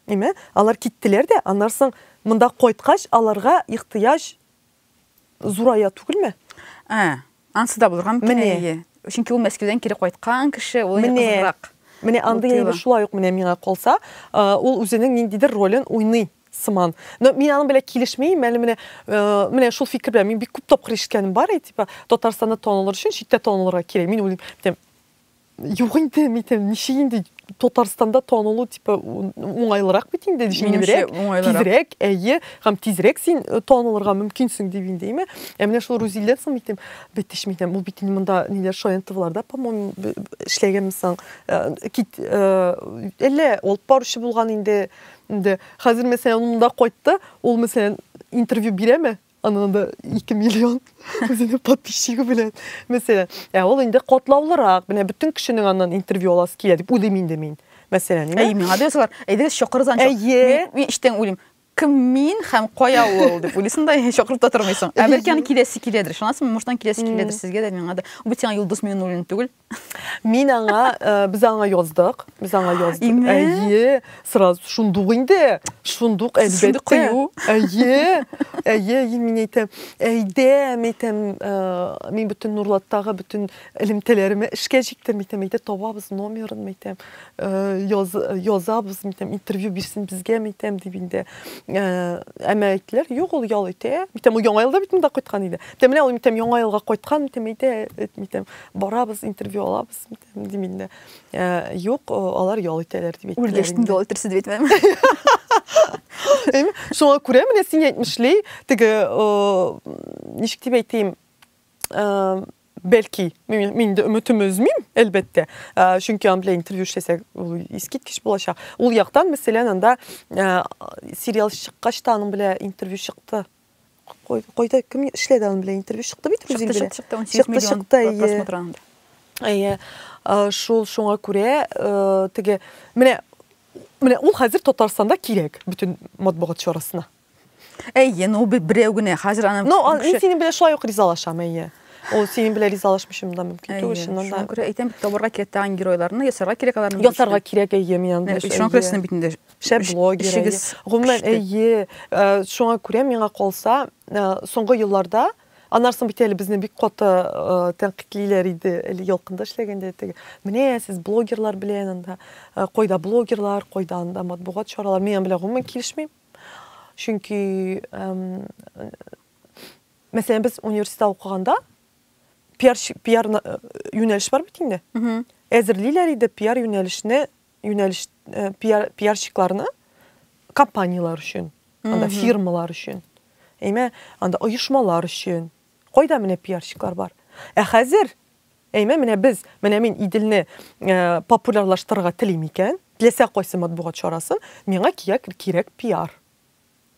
Speaker 2: име? Алар киттеләр дә, аннан соң монда кайткач аларга ихтыяҗ Зурая түгелме? Ә,
Speaker 1: ансы да булырга мөмкин әйе. Чөнки ул Мәскәүдән кире кайткан кеше, ул кызыграк. Менә андый әйбер
Speaker 2: шулай ук менә миңа калса, ул үзенең ниндидер ролен уйный сыман. Но мин аның белән килешмим, әле менә э, менә шул фикер белән мин бик күп тапкыр ишеткәнем бар, и типа Татарстанда танылыр өчен читтә танылырга кирәк. Мин уйлыйм, Юк инде, митем, ничек инде Татарстанда танылу типа уңайлырак бит инде, җиңелрәк, тизрәк, әйе, һәм тизрәк син э, танылырга мөмкинсең дип инде, әйме? Ә менә шул Рузилдән соң митем, бит ич митем, ул бит монда ниләр Шаянтовларда, по-моему, эшләгәнме соң? Э, кит, э, әллә алып баручы булган инде, инде. Хәзер мәсәлән, монда кайтты, ул мәсәлән интервью бирәме? Анын да 2 миллион үзенең подписчигы белән. Мәсәлән, ә ул инде котлаулырак, менә бөтен кешенең аннан интервью аласы килә дип уйлыйм инде мин. Мәсәлән, инде. Әй, миңа да язалар. Әйдәгез
Speaker 1: чакырыз анча. Әйе. Мин иштән уйлыйм. Кем мин һәм кая ул дип уйлыйсың да, чакырып та тормыйсың. Ә бәлки аны киләсе киләдер. Шунасымы, муштан киләсе киләдер сезгә дә, миңа да. Бу сиңа Юлдыз Миннуллин түгел. Мин аңа,
Speaker 2: э, без аңа яздык, без аңа яздык. Име? Әйе, сразу шундук инде, шундук әлбәттә. кыю. Әйе, әйе, әйе, мин әйтәм, әйдә, мин әйтәм, э, мин бөтен Нурлаттагы бөтен элемтәләремә эшкә җиктем, мин әйтәм, әйдә табабыз номерын, мин әйтәм, э, яз, язабыз, мин әйтәм, интервью бирсен безгә, мин әйтәм, дип инде. Э, әмма әйттеләр, юк, ул ял итә. Мин әйтәм, ул яңа елда бит монда кайткан иде. Мин әйтәм, менә ул, мин әйтәм, яңа елга кайткан, мин әйтәм, әйдә, мин әйтәм, барабыз, интервью алабыз, дим инде. Э, юк, э, алар ял итәләр дип әйттеләр. Үлгәчтен ял итәрсез дип
Speaker 1: әйтмәдем.
Speaker 2: Шуңа күрә менә син әйтмешли, теге э, ничек дип әйтим, бәлки мин дә өметем өзмим, әлбәттә. Чөнки ан белән интервью эшләсәк, ул искиткеч булачак. Ул яктан, мәсәлән, анда сериал чыккач та аның белән интервью чыкты. Кайда кем эшләде аның белән интервью чыкты бит Рузин белән. Чыкты, чыкты, 18 миллион чыкты,
Speaker 1: әйе. просмотр анда. Әйе.
Speaker 2: Шул шуңа күрә э, теге менә менә ул хәзер Татарстанда кирәк бөтен матбугат чарасына. Әйе,
Speaker 1: ну берәү генә хәзер аны Ну, мин синең белән шулай
Speaker 2: ук ризалашам, әйе. Ул синең белән ризалашмыйчым да мөмкин түгел, чыннан да. Шуңа күрә әйтәм бит,
Speaker 1: табарга кирәк тагын геройларны, ясарга кирәк аларны. Ясарга кирәк, әйе, мин
Speaker 2: анда. Шуңа күрә сезнең бит инде
Speaker 1: шәп блогер эшегез
Speaker 2: гомумән әйе э, шуңа күрә миңа калса э, соңгы елларда анарсын бит әле безне бик каты э, тәнкыйтьлиләр иде әле ялкында эшләгәндә теге менә сез блогерлар белән анда кайда блогерлар кайда анда матбугат чаралары мин белән гомумән килешмим чөнки мәсәлән без университетта укыганда пиар пиар юнәлеш бар бит инде әзерлиләр иде пиар юнәлешне юнәлеш э, пиар, пиарщикларны компанияләр өчен анда фирмалар өчен әйме анда оешмалар өчен кайда менә пиарщиклар бар ә хәзер әйме менә без менә мин иделне э, популярлаштырырга телим икән теләсә кайсы матбугат чарасын миңа кирәк, кирәк пиар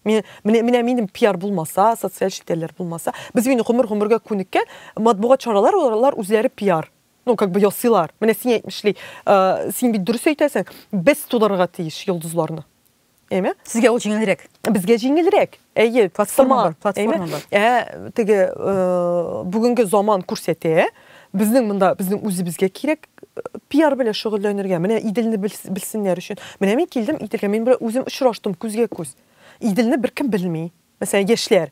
Speaker 2: Мен, менә, менә минем пиар булмаса социаль челтәрләр булмаса без инде гомер гомергә күнеккән матбугат чаралар олар үзләре пиар ну как бы ясыйлар менә син әйтмешли э, син бит дөрес әйтәсең без тудырырга тиеш йолдызларны әйме сезгә
Speaker 1: ул җиңелрәк безгә җиңелрәк
Speaker 2: әйе платформа бар
Speaker 1: платформа бар ә теге
Speaker 2: э, бүгенге заман күрсәтә безнең монда безнең үзебезгә кирәк э, пиар белән шөгыльләнергә менә иделне белсеннәр өчен менә мин килдем иделгә мин белән үзем очраштым күзгә күз иделне беркем белми мәсәлән яшьләр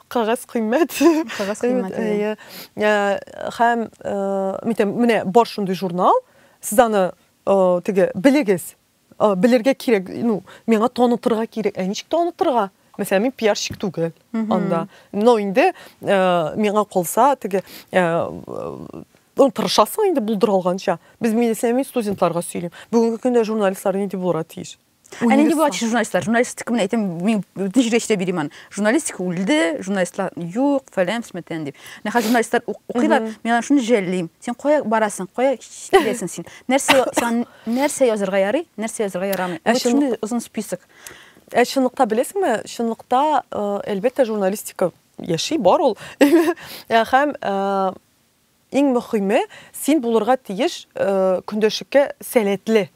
Speaker 2: Кагаз кыйммәт. Кагаз кыйммәт. Әйе. Ә, һәм, ә, э, менә бар шундый журнал, сез аны э, теге белегез, э, белергә кирәк, ну, миңа танытырга кирәк. Ә ничек танытырга? Мәсәлән, мин пиарщик түгел анда. Но инде миңа калса, теге ну, тырышасың инде булдыра алганча. Без медицина студентларга сөйлим. Бүгенге көндә журналистлар нинди булырга тиеш? Ә нинди була
Speaker 1: журналистлар? Журналистика менә әйтәм, мин тәҗрибә эчтә бирим аны. Журналистика үлде, журналистлар юк, фәлән, фәлән дип. Менә хәзер журналистлар укыйлар, мин аны шуны жәллим. Син кая барасың? Кая киләсең син? Нәрсә син нәрсә язырга ярый, нәрсә язырга ярамый? Ә шуны озын список. Ә чынлыкта
Speaker 2: беләсеңме? Чынлыкта, әлбәттә, журналистика яши, бар ул. Һәм иң мөхиме, син булырга тиеш көндәшлеккә сәләтле.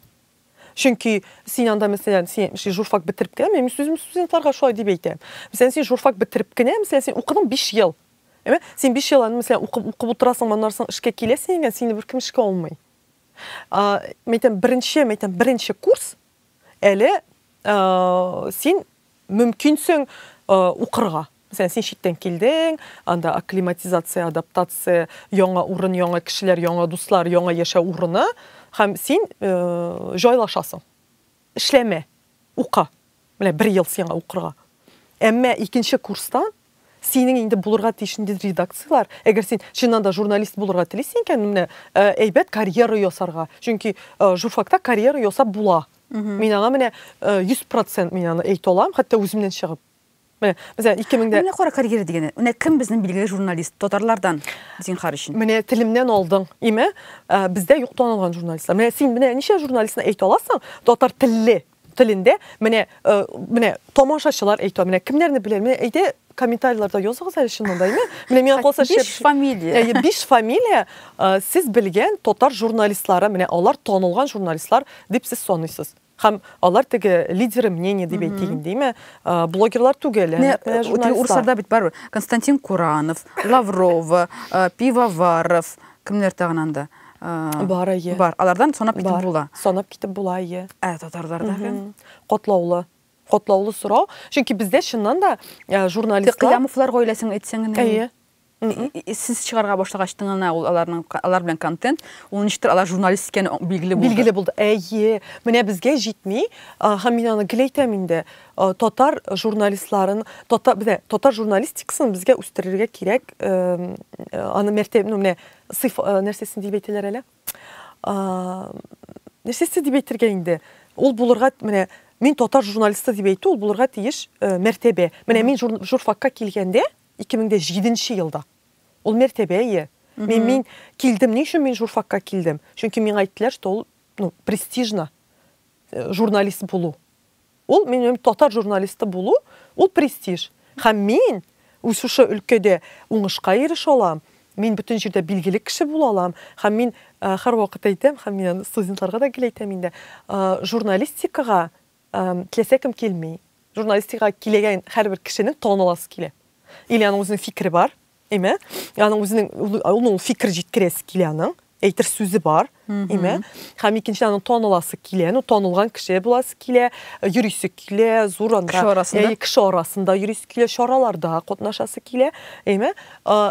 Speaker 2: Чөнки син анда, мәсәлән, син ши журфак бетереп кенә, мин сүзем студентларга шулай дип әйтәм. Мәсәлән, син журфак бетереп кенә, мәсәлән, син укыдың 5 ел. Әйме? Син 5 ел аны, мәсәлән, укып, укып утырасың, моннан соң эшкә киләсең икән, сине беркем эшкә алмый. А, мәйтәм, беренче, мәйтәм, беренче курс әле а, син мөмкин соң укырга. Мәсәлән, син читтән килдең, анда акклиматизация, адаптация, яңа урын, яңа кешеләр, яңа дуслар, яңа яшәү урыны, һәм син җайлашасың. Эшләмә, ука. Менә бер ел сиңа укырга. Әмма икенче курстан Синең инде булырга тиеш нинди редакцияләр, әгәр син чыннан да журналист булырга телисең икән, менә әйбәт карьера ясарга, чөнки журфакта карьера ясап була. Мин аңа менә 100% мин аны әйтә алам, хәтта үземнән чыгып. Менә, мәсәлән, 2000 дә Менә кара карьера дигәнне.
Speaker 1: Менә кем безнең билгеле журналист татарлардан, зинхар өчен? Менә телемнән алдың.
Speaker 2: Име, бездә юк танылган журналистлар. Менә син менә ничә журналистны әйтә аласың, татар телле, телендә менә э, менә тамашачылар әйтә менә кемнәрне белә менә әйдә комментарийларда языгыз әле чыннан да әйме менә миңа калса биш фамилия әйе
Speaker 1: биш фамилия
Speaker 2: э, сез белгән татар журналистлары менә алар танылган журналистлар дип сез саныйсыз һәм алар теге лидеры мнения дип әйтик инде әйме э, блогерлар түгел менә урысларда
Speaker 1: бит барыбер константин куранов лаврова пивоваров Кемнәр тагын анда? Бар, әйе.
Speaker 2: Бар. Алардан санап
Speaker 1: китеп була. Санап китеп була,
Speaker 2: әйе. Ә татарларда кем?
Speaker 1: Котлаулы.
Speaker 2: Котлаулы сорау. Чөнки бездә чыннан да журналистлар Кыямовлар гаиләсен
Speaker 1: әйтсәң генә. Әйе. Сез чыгарга башлагач тыңына ул аларның алар белән контент, ул ничектер алар журналист икәне билгеле булды. Билгеле булды. Әйе. Менә безгә
Speaker 2: җитми, һәм мин аны гел әйтәм инде. Э, татар журналистларын татар бе татар журналистикасын безгә үстерергә кирәк э, э, аны мәртәб ну менә сыйф нәрсәсен дип әйтәләр әле нәрсәсе дип әйтергә инде ул булырга менә мин татар журналисты дип әйтү ул булырга тиеш мәртәбә менә мин журфакка килгәндә 2007 елда ул мәртәбә ие мин мин килдем ни өчен мин журфакка килдем чөнки миңа әйттеләр что ул ну престижно журналист булу Ул минем татар журналисты булу, ул престиж. Һәм мин үз шушы өлкәдә уңышка ирешә алам, мин бөтен җирдә билгеле кеше була алам. Һәм мин һәрвакыт әйтәм, һәм мин аны студентларга да гел әйтәм инде, журналистикага теләсә кем килми. Журналистикага киләгән һәрбер кешенең таныласы килә. Или аның үзенең фикере бар, Әйме? Аны үзенең ул ул фикер җиткерәсе килә аның. Әйтер сүзе бар, әйме? Һәм икенче аны таныласы килә, ну танылган кеше буласы килә, йөрисе килә, зур анда. Кеше арасында. Әй, кеше арасында йөрисе килә, чараларда катнашасы килә, әйме?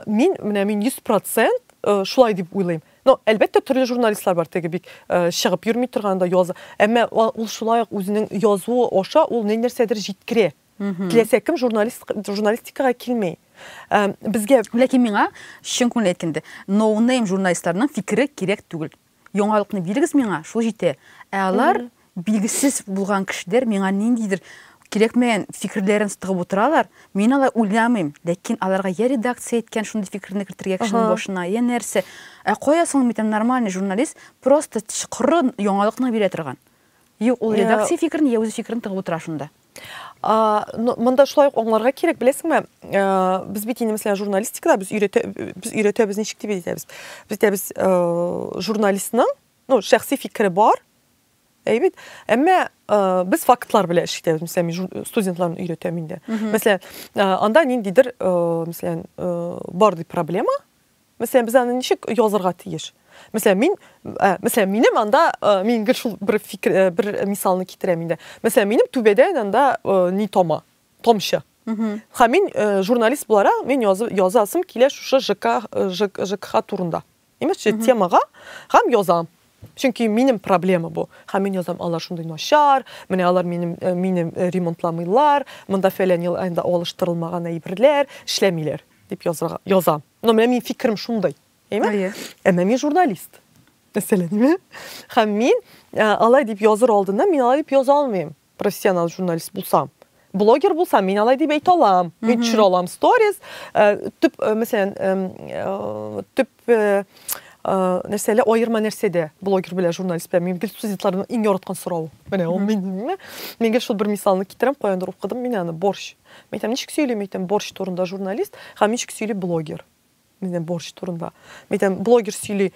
Speaker 2: Мин менә мин 100% шулай дип уйлыйм. Но әлбәттә төрле журналистлар бар теге бик чыгып йөрми торганда яза. Әмма ул шулай ук үзенең язуы аша ул нәрсәдер җиткерә. Теләсә кем журналистикага килми. Безгә Ләкин миңа
Speaker 1: чын күңел әйткәндә, ноунейм журналистларның фикере кирәк түгел. Яңалыкны бирегез миңа, шул җитә. Ә алар билгесез булган кешеләр миңа ниндидер кирәкмәгән фикерләрен тыгып утыралар. Мин алай уйламыйм, ләкин аларга я редакция әйткән шундый фикерне кертергә кешенең башына, я нәрсә. Ә кая соң бит нормальный журналист просто коры яңалыкны бирә торган. Юк, ул редакция фикерен я үзе фикерен тыгып утыра шунда.
Speaker 2: Монда шулай ук аңларга кирәк, беләсеңме, без бит инде мәсәлән журналистикада без өйрәтә без өйрәтәбез ничек дип әйтәбез. Без әйтәбез, журналистның, ну, шәхси фикере бар. Әй бит. Әмма без фактлар белән эш итәбез, мәсәлән, мин студентларны өйрәтәм инде. Мәсәлән, анда ниндидер, мәсәлән, бар ди проблема. Мәсәлән, без аны ничек язырга тиеш? Мәсәлән, мин, ә, мәсәлән, минем анда, ә, мин гел шул бер фикер, ә, бер мисалны китерәм инде. Мәсәлән, минем түбәдә анда ә, ни тома? Томчы. Һәм мин ә, журналист буларак, мин яз, язасым килә шушы ЖК, ЖК, ЖКХ турында. Имеш, темага һәм язам. Чөнки минем проблема бу. Һәм мин язам, алар шундый начар, менә алар минем, ә, минем ремонтламыйлар, монда фәлән ел анда алыштырылмаган әйберләр, эшләмиләр, дип язырга, язам. Но менә минем фикерем шундый. Әйме? Әйе. Әмма мин журналист. Мәсәлән, әйме? Хәм мин алай дип языр алдыннан мин алай дип яза алмыйм. Профессионал журналист булсам. Блогер булсам, мин алай дип әйтә алам. Мин төшерә алам сторис. Төп, мәсәлән, төп нәрсәле аерма нәрсәдә блогер белән журналист белән мин гел студентларның иң яраткан сорау. Менә ул мин. Мин гел шул бер мисалны китерәм, каяндыр укыдым мин аны, борщ. Мин әйтәм, ничек сөйли, мин әйтәм, борщ турында журналист, һәм ничек сөйли блогер. Мин әйтәм, борщ турында. Мин әйтәм, блогер сөйли,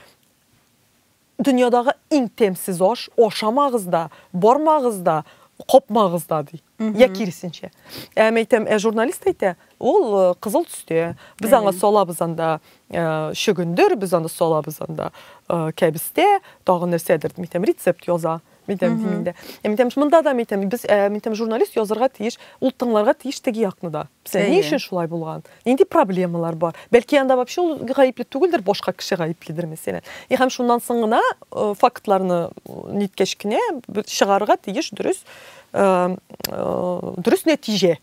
Speaker 2: дөньядагы иң тәмсез аш, ашамагыз да, бармагыз да, капмагыз да, ди. Я киресенчә. Ә мин әйтәм, ә журналист әйтә, ул э, кызыл төстә. Без аңа салабыз анда э, чөгендер, без аны салабыз анда э, кәбестә, тагын нәрсәдер, мин әйтәм, рецепт яза. Митәм, mm -hmm. мин дә. Ә митәм, монда да митәм. Без ә, митәм журналист язырга тиеш, ул тыңларга тиеш теге якны да. Сән ни өчен шулай булган? Нинди проблемалар бар? Бәлки анда вообще ул гаепле түгелдер, башка кеше гаепледер мәсәлән. И һәм шуннан соң гына э, фактларны ниткәч кенә чыгарырга тиеш дөрес э, э, дөрес нәтиҗә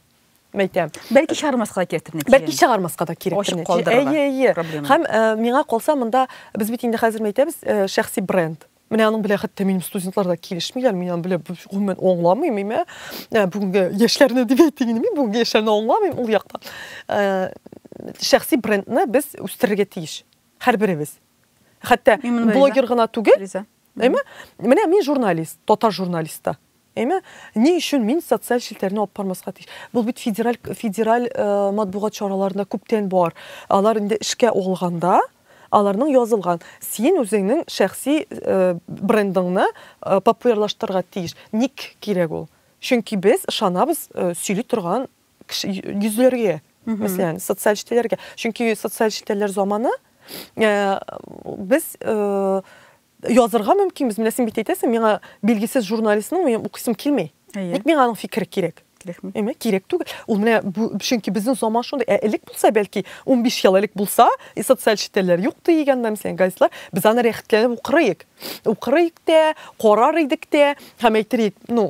Speaker 2: мәйтәм. Бәлки чыгармаска да
Speaker 1: кирәктер нәтиҗә. Бәлки чыгармаска да
Speaker 2: кирәктер нәтиҗә. Әйе, әйе. Һәм миңа калса монда без бит инде хәзер мәйтәбез шәхси бренд. Менә аның белән хәтта минем студентлар да килешмиләр, мин аны белән гомумән аңламыйм, имә. Ә бүгенге яшьләрне дип әйтим, мин бүгенге яшьләрне аңламыйм ул яктан. Ә, шәхси брендны без үстерергә тиеш. Һәрберебез. Хәтта блогер гына түгел. Әйме? Менә мин журналист, татар журналисты. Әмма ни өчен мин социаль челтәрне алып бармаска тиеш? Бу бит федераль федераль матбугат чараларында күптән бар. Алар инде эшкә алганда, аларның язылган. Син үзеңнең шәхси брендыңны популярлаштырырга тиеш. Ник кирәк ул? Чөнки без ышанабыз сөйли торган йөзләргә, мәсәлән, социаль челтәрләргә. Чөнки социаль челтәрләр заманы без Язырга мөмкинбез. Менә син бит әйтәсең, миңа билгесез журналистның минем укыйсым килми. Ник миңа аның фикере кирәк? Кирәкме? Әмма кирәк түгел. Ул менә бу, чөнки безнең заман шундый. Ә элек булса, бәлки 15 ел элек булса, и социаль челтәрләр юк дигән дә мәсәлән газетлар, без аны рәхәтләнеп укырыйк. Укырыйк тә, карар идек тә, һәм әйтер ну,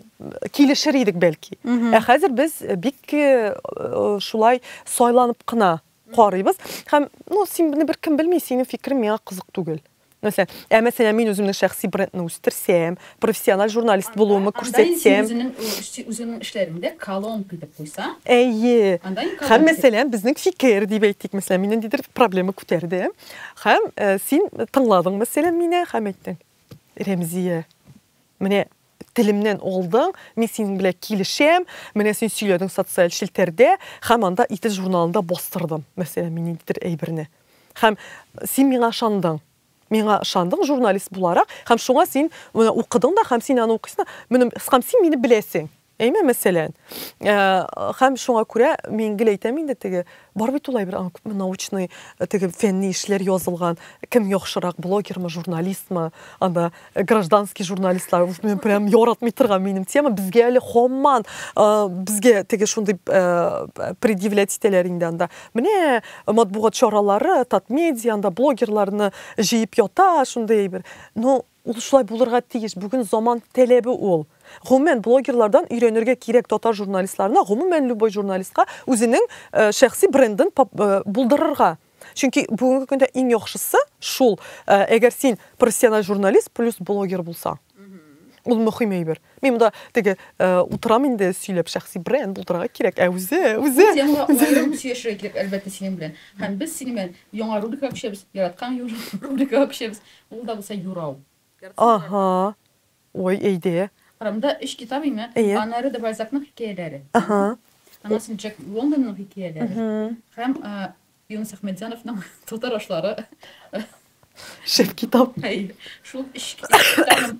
Speaker 2: килешер идек бәлки. Ә хәзер без бик э, шулай сайланып кына карыйбыз. Һәм, ну, син бер кем белми, синең фикерең миңа кызык түгел. Нәрсә? Ә мәсәлән, мин үземнең шәхси брендны үстерсәм, профессиональ журналист булуымы күрсәтсәм. Анда инде син үзеңнең
Speaker 1: эшләреңдә колонка итеп куйсаң. Әйе.
Speaker 2: Һәм мәсәлән, безнең фикер дип әйтик, мәсәлән, мин ниндидер проблема күтәрдем. Һәм син тыңладың мәсәлән мине һәм әйттең, Рәмзия, менә Телемнән алдың, мин синең белән килешәм, менә син сөйләдең социаль челтәрдә, һәм анда Итез журналында бастырдым, мәсәлән, мин ниндидер әйберне. Һәм син миңа ышандың. Миңа ышандың журналист буларак, һәм шуңа син моны укыдың да, һәм син аны укыйсың да, менә, һәм син мине беләсең. Әйме, мәсәлән. Һәм шуңа күрә мин гел әйтәм инде теге Бар бит ул әйбер, аңа күпме научный, теге фәнни эшләр язылган, кем яхшырак, блогермы, журналистмы, анда гражданский журналистлар, мин прям яратмый торган минем тема, безгә әле хамман, безгә теге шундый предъявлять итәләр инде анда. Менә матбугат чаралары, Татмедиа, анда блогерларны җыеп ята, шундый әйбер. Но Ул шулай булырга тиеш, бүген заман тәләбе ул. Гомумән, блогерлардан өйрәнергә кирәк татар журналистларына, гомумән любой журналистка үзенең шәхси брендын булдырырга. Чөнки бүгенге көндә иң яхшысы шул, әгәр син профессиональ журналист плюс блогер булсаң. Ул мөхим әйбер. Мин монда теге утырам инде сөйләп, шәхси бренд булдырырга кирәк, ә үзе, үзе. Ул темага аерым
Speaker 1: сөйләшергә кирәк, әлбәттә, синең белән. Һәм без синең белән яңа рубрикага күчәбез, яраткан рубрикага күчәбез. Ул да булса юрау. Аһа.
Speaker 2: Ой, әйдә. Кырымда өч китап
Speaker 1: име? Әйе. Аннары да Бальзакның хикәяләре. Аһа. Аннан Джек Лондонның хикәяләре. Һәм Юныс Әхмәтҗановның Татар ашлары.
Speaker 2: Шәп китап. Әйе. Шул өч
Speaker 1: китапны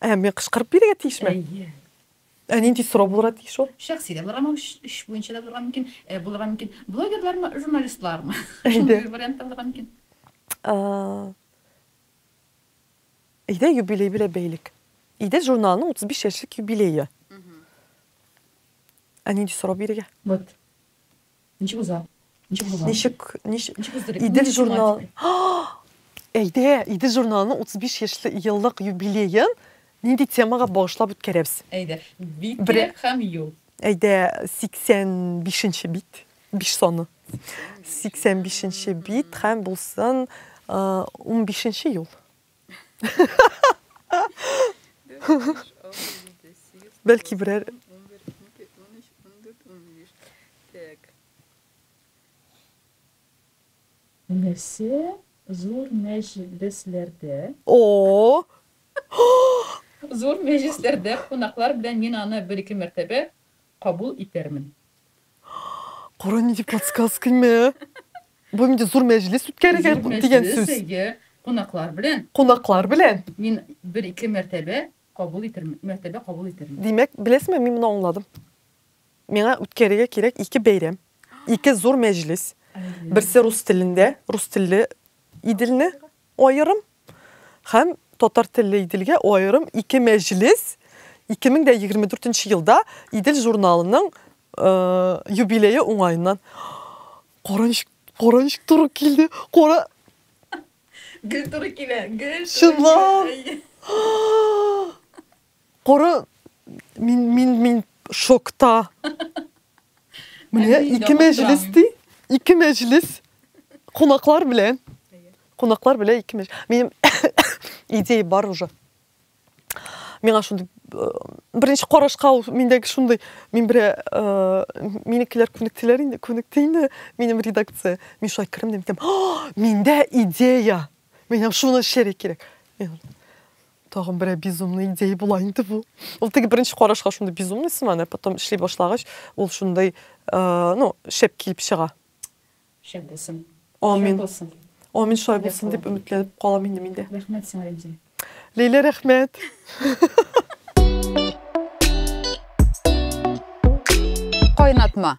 Speaker 2: Ә мин кычкырып бирергә тиешме? Әйе. Ә нинди сорау булырга тиеш ул? Шәхси дә булырга мөмкин,
Speaker 1: эш буенча да булырга мөмкин, э, булырга мөмкин. Блогерлармы, журналистлармы? Әйдә. Шундый вариант та булырга мөмкин. А,
Speaker 2: Әйдә, юбилей белән бәйлек. Әйдә, журналның 35 яшьлек юбилее. Ә нинди сорау бирергә? Вот.
Speaker 1: Ничек уза? Ничек була?
Speaker 2: Ничек, ничек? Ничек уздырыйк? Идел Ничек журнал. чыга? Ах! Әйдә, Идел журналының 35 яшьле еллык юбилеен нинди темага багышлап үткәрәбез? Әйдә, бит
Speaker 1: Бре- кирәк һәм юл. Әйдә, 85-нче
Speaker 2: бит, 5 саны. 85-нче бит һәм булсын э, 15-нче юл. Бәлки берәр
Speaker 1: Нәрсә зур мәҗлесләрдә? О! Зур мәҗлесләрдә кунаклар белән мин аны бер-ике мәртәбә Кабул итәрмен.
Speaker 2: Кара нинди подсказка мә. Бу инде зур мәҗлес үткәрергә Зур дигән мәҗлес, сүз. әйе, кунаклар
Speaker 1: белән. Кунаклар белән.
Speaker 2: Мин бер-ике
Speaker 1: мәртәбә кабул итермен, мәртәбә кабул итермен. Димәк, беләсезме,
Speaker 2: мин моны аңладым. Миңа үткәрергә кирәк ике бәйрәм, ике зур мәҗлес. Әйе. Берсе рус телендә, рус телле Иделне Аерым һәм Татар телле Иделгә аерым ике мәҗлес 2024 елда Идел журналының юбилее уңаеннан Кара ничек, кара ничек туры килде, кара!
Speaker 1: Гел туры килә, гел туры килә. Чынлап!
Speaker 2: Коры мин мин мин шокта. Менә ике мәҗлес ди. Ике мәҗлес. Кунаклар белән. Кунаклар белән ике мәҗлес. Минем идея бар уже. Миңа шундый э, беренче карашка ул миндәге шундый мин бер э, минекеләр күнектеләр инде, күнекте инде минем редакция. Мин шулай кердем дим, миндә идея. Миңа шуны эшләргә кирәк. Тагын берәр безумный идея була инде бу. Ул теге беренче карашка шундый безумный сыман, ә потом эшли башлагач, ул шундый, э, ну, шәп килеп чыга. Шәп
Speaker 1: булсын. Амин. Булсын.
Speaker 2: Амин шулай булсын дип өметләнеп калам инде миндә. Рәхмәт сиңа,
Speaker 1: Лилия. Лилия, рәхмәт. Кайнатма.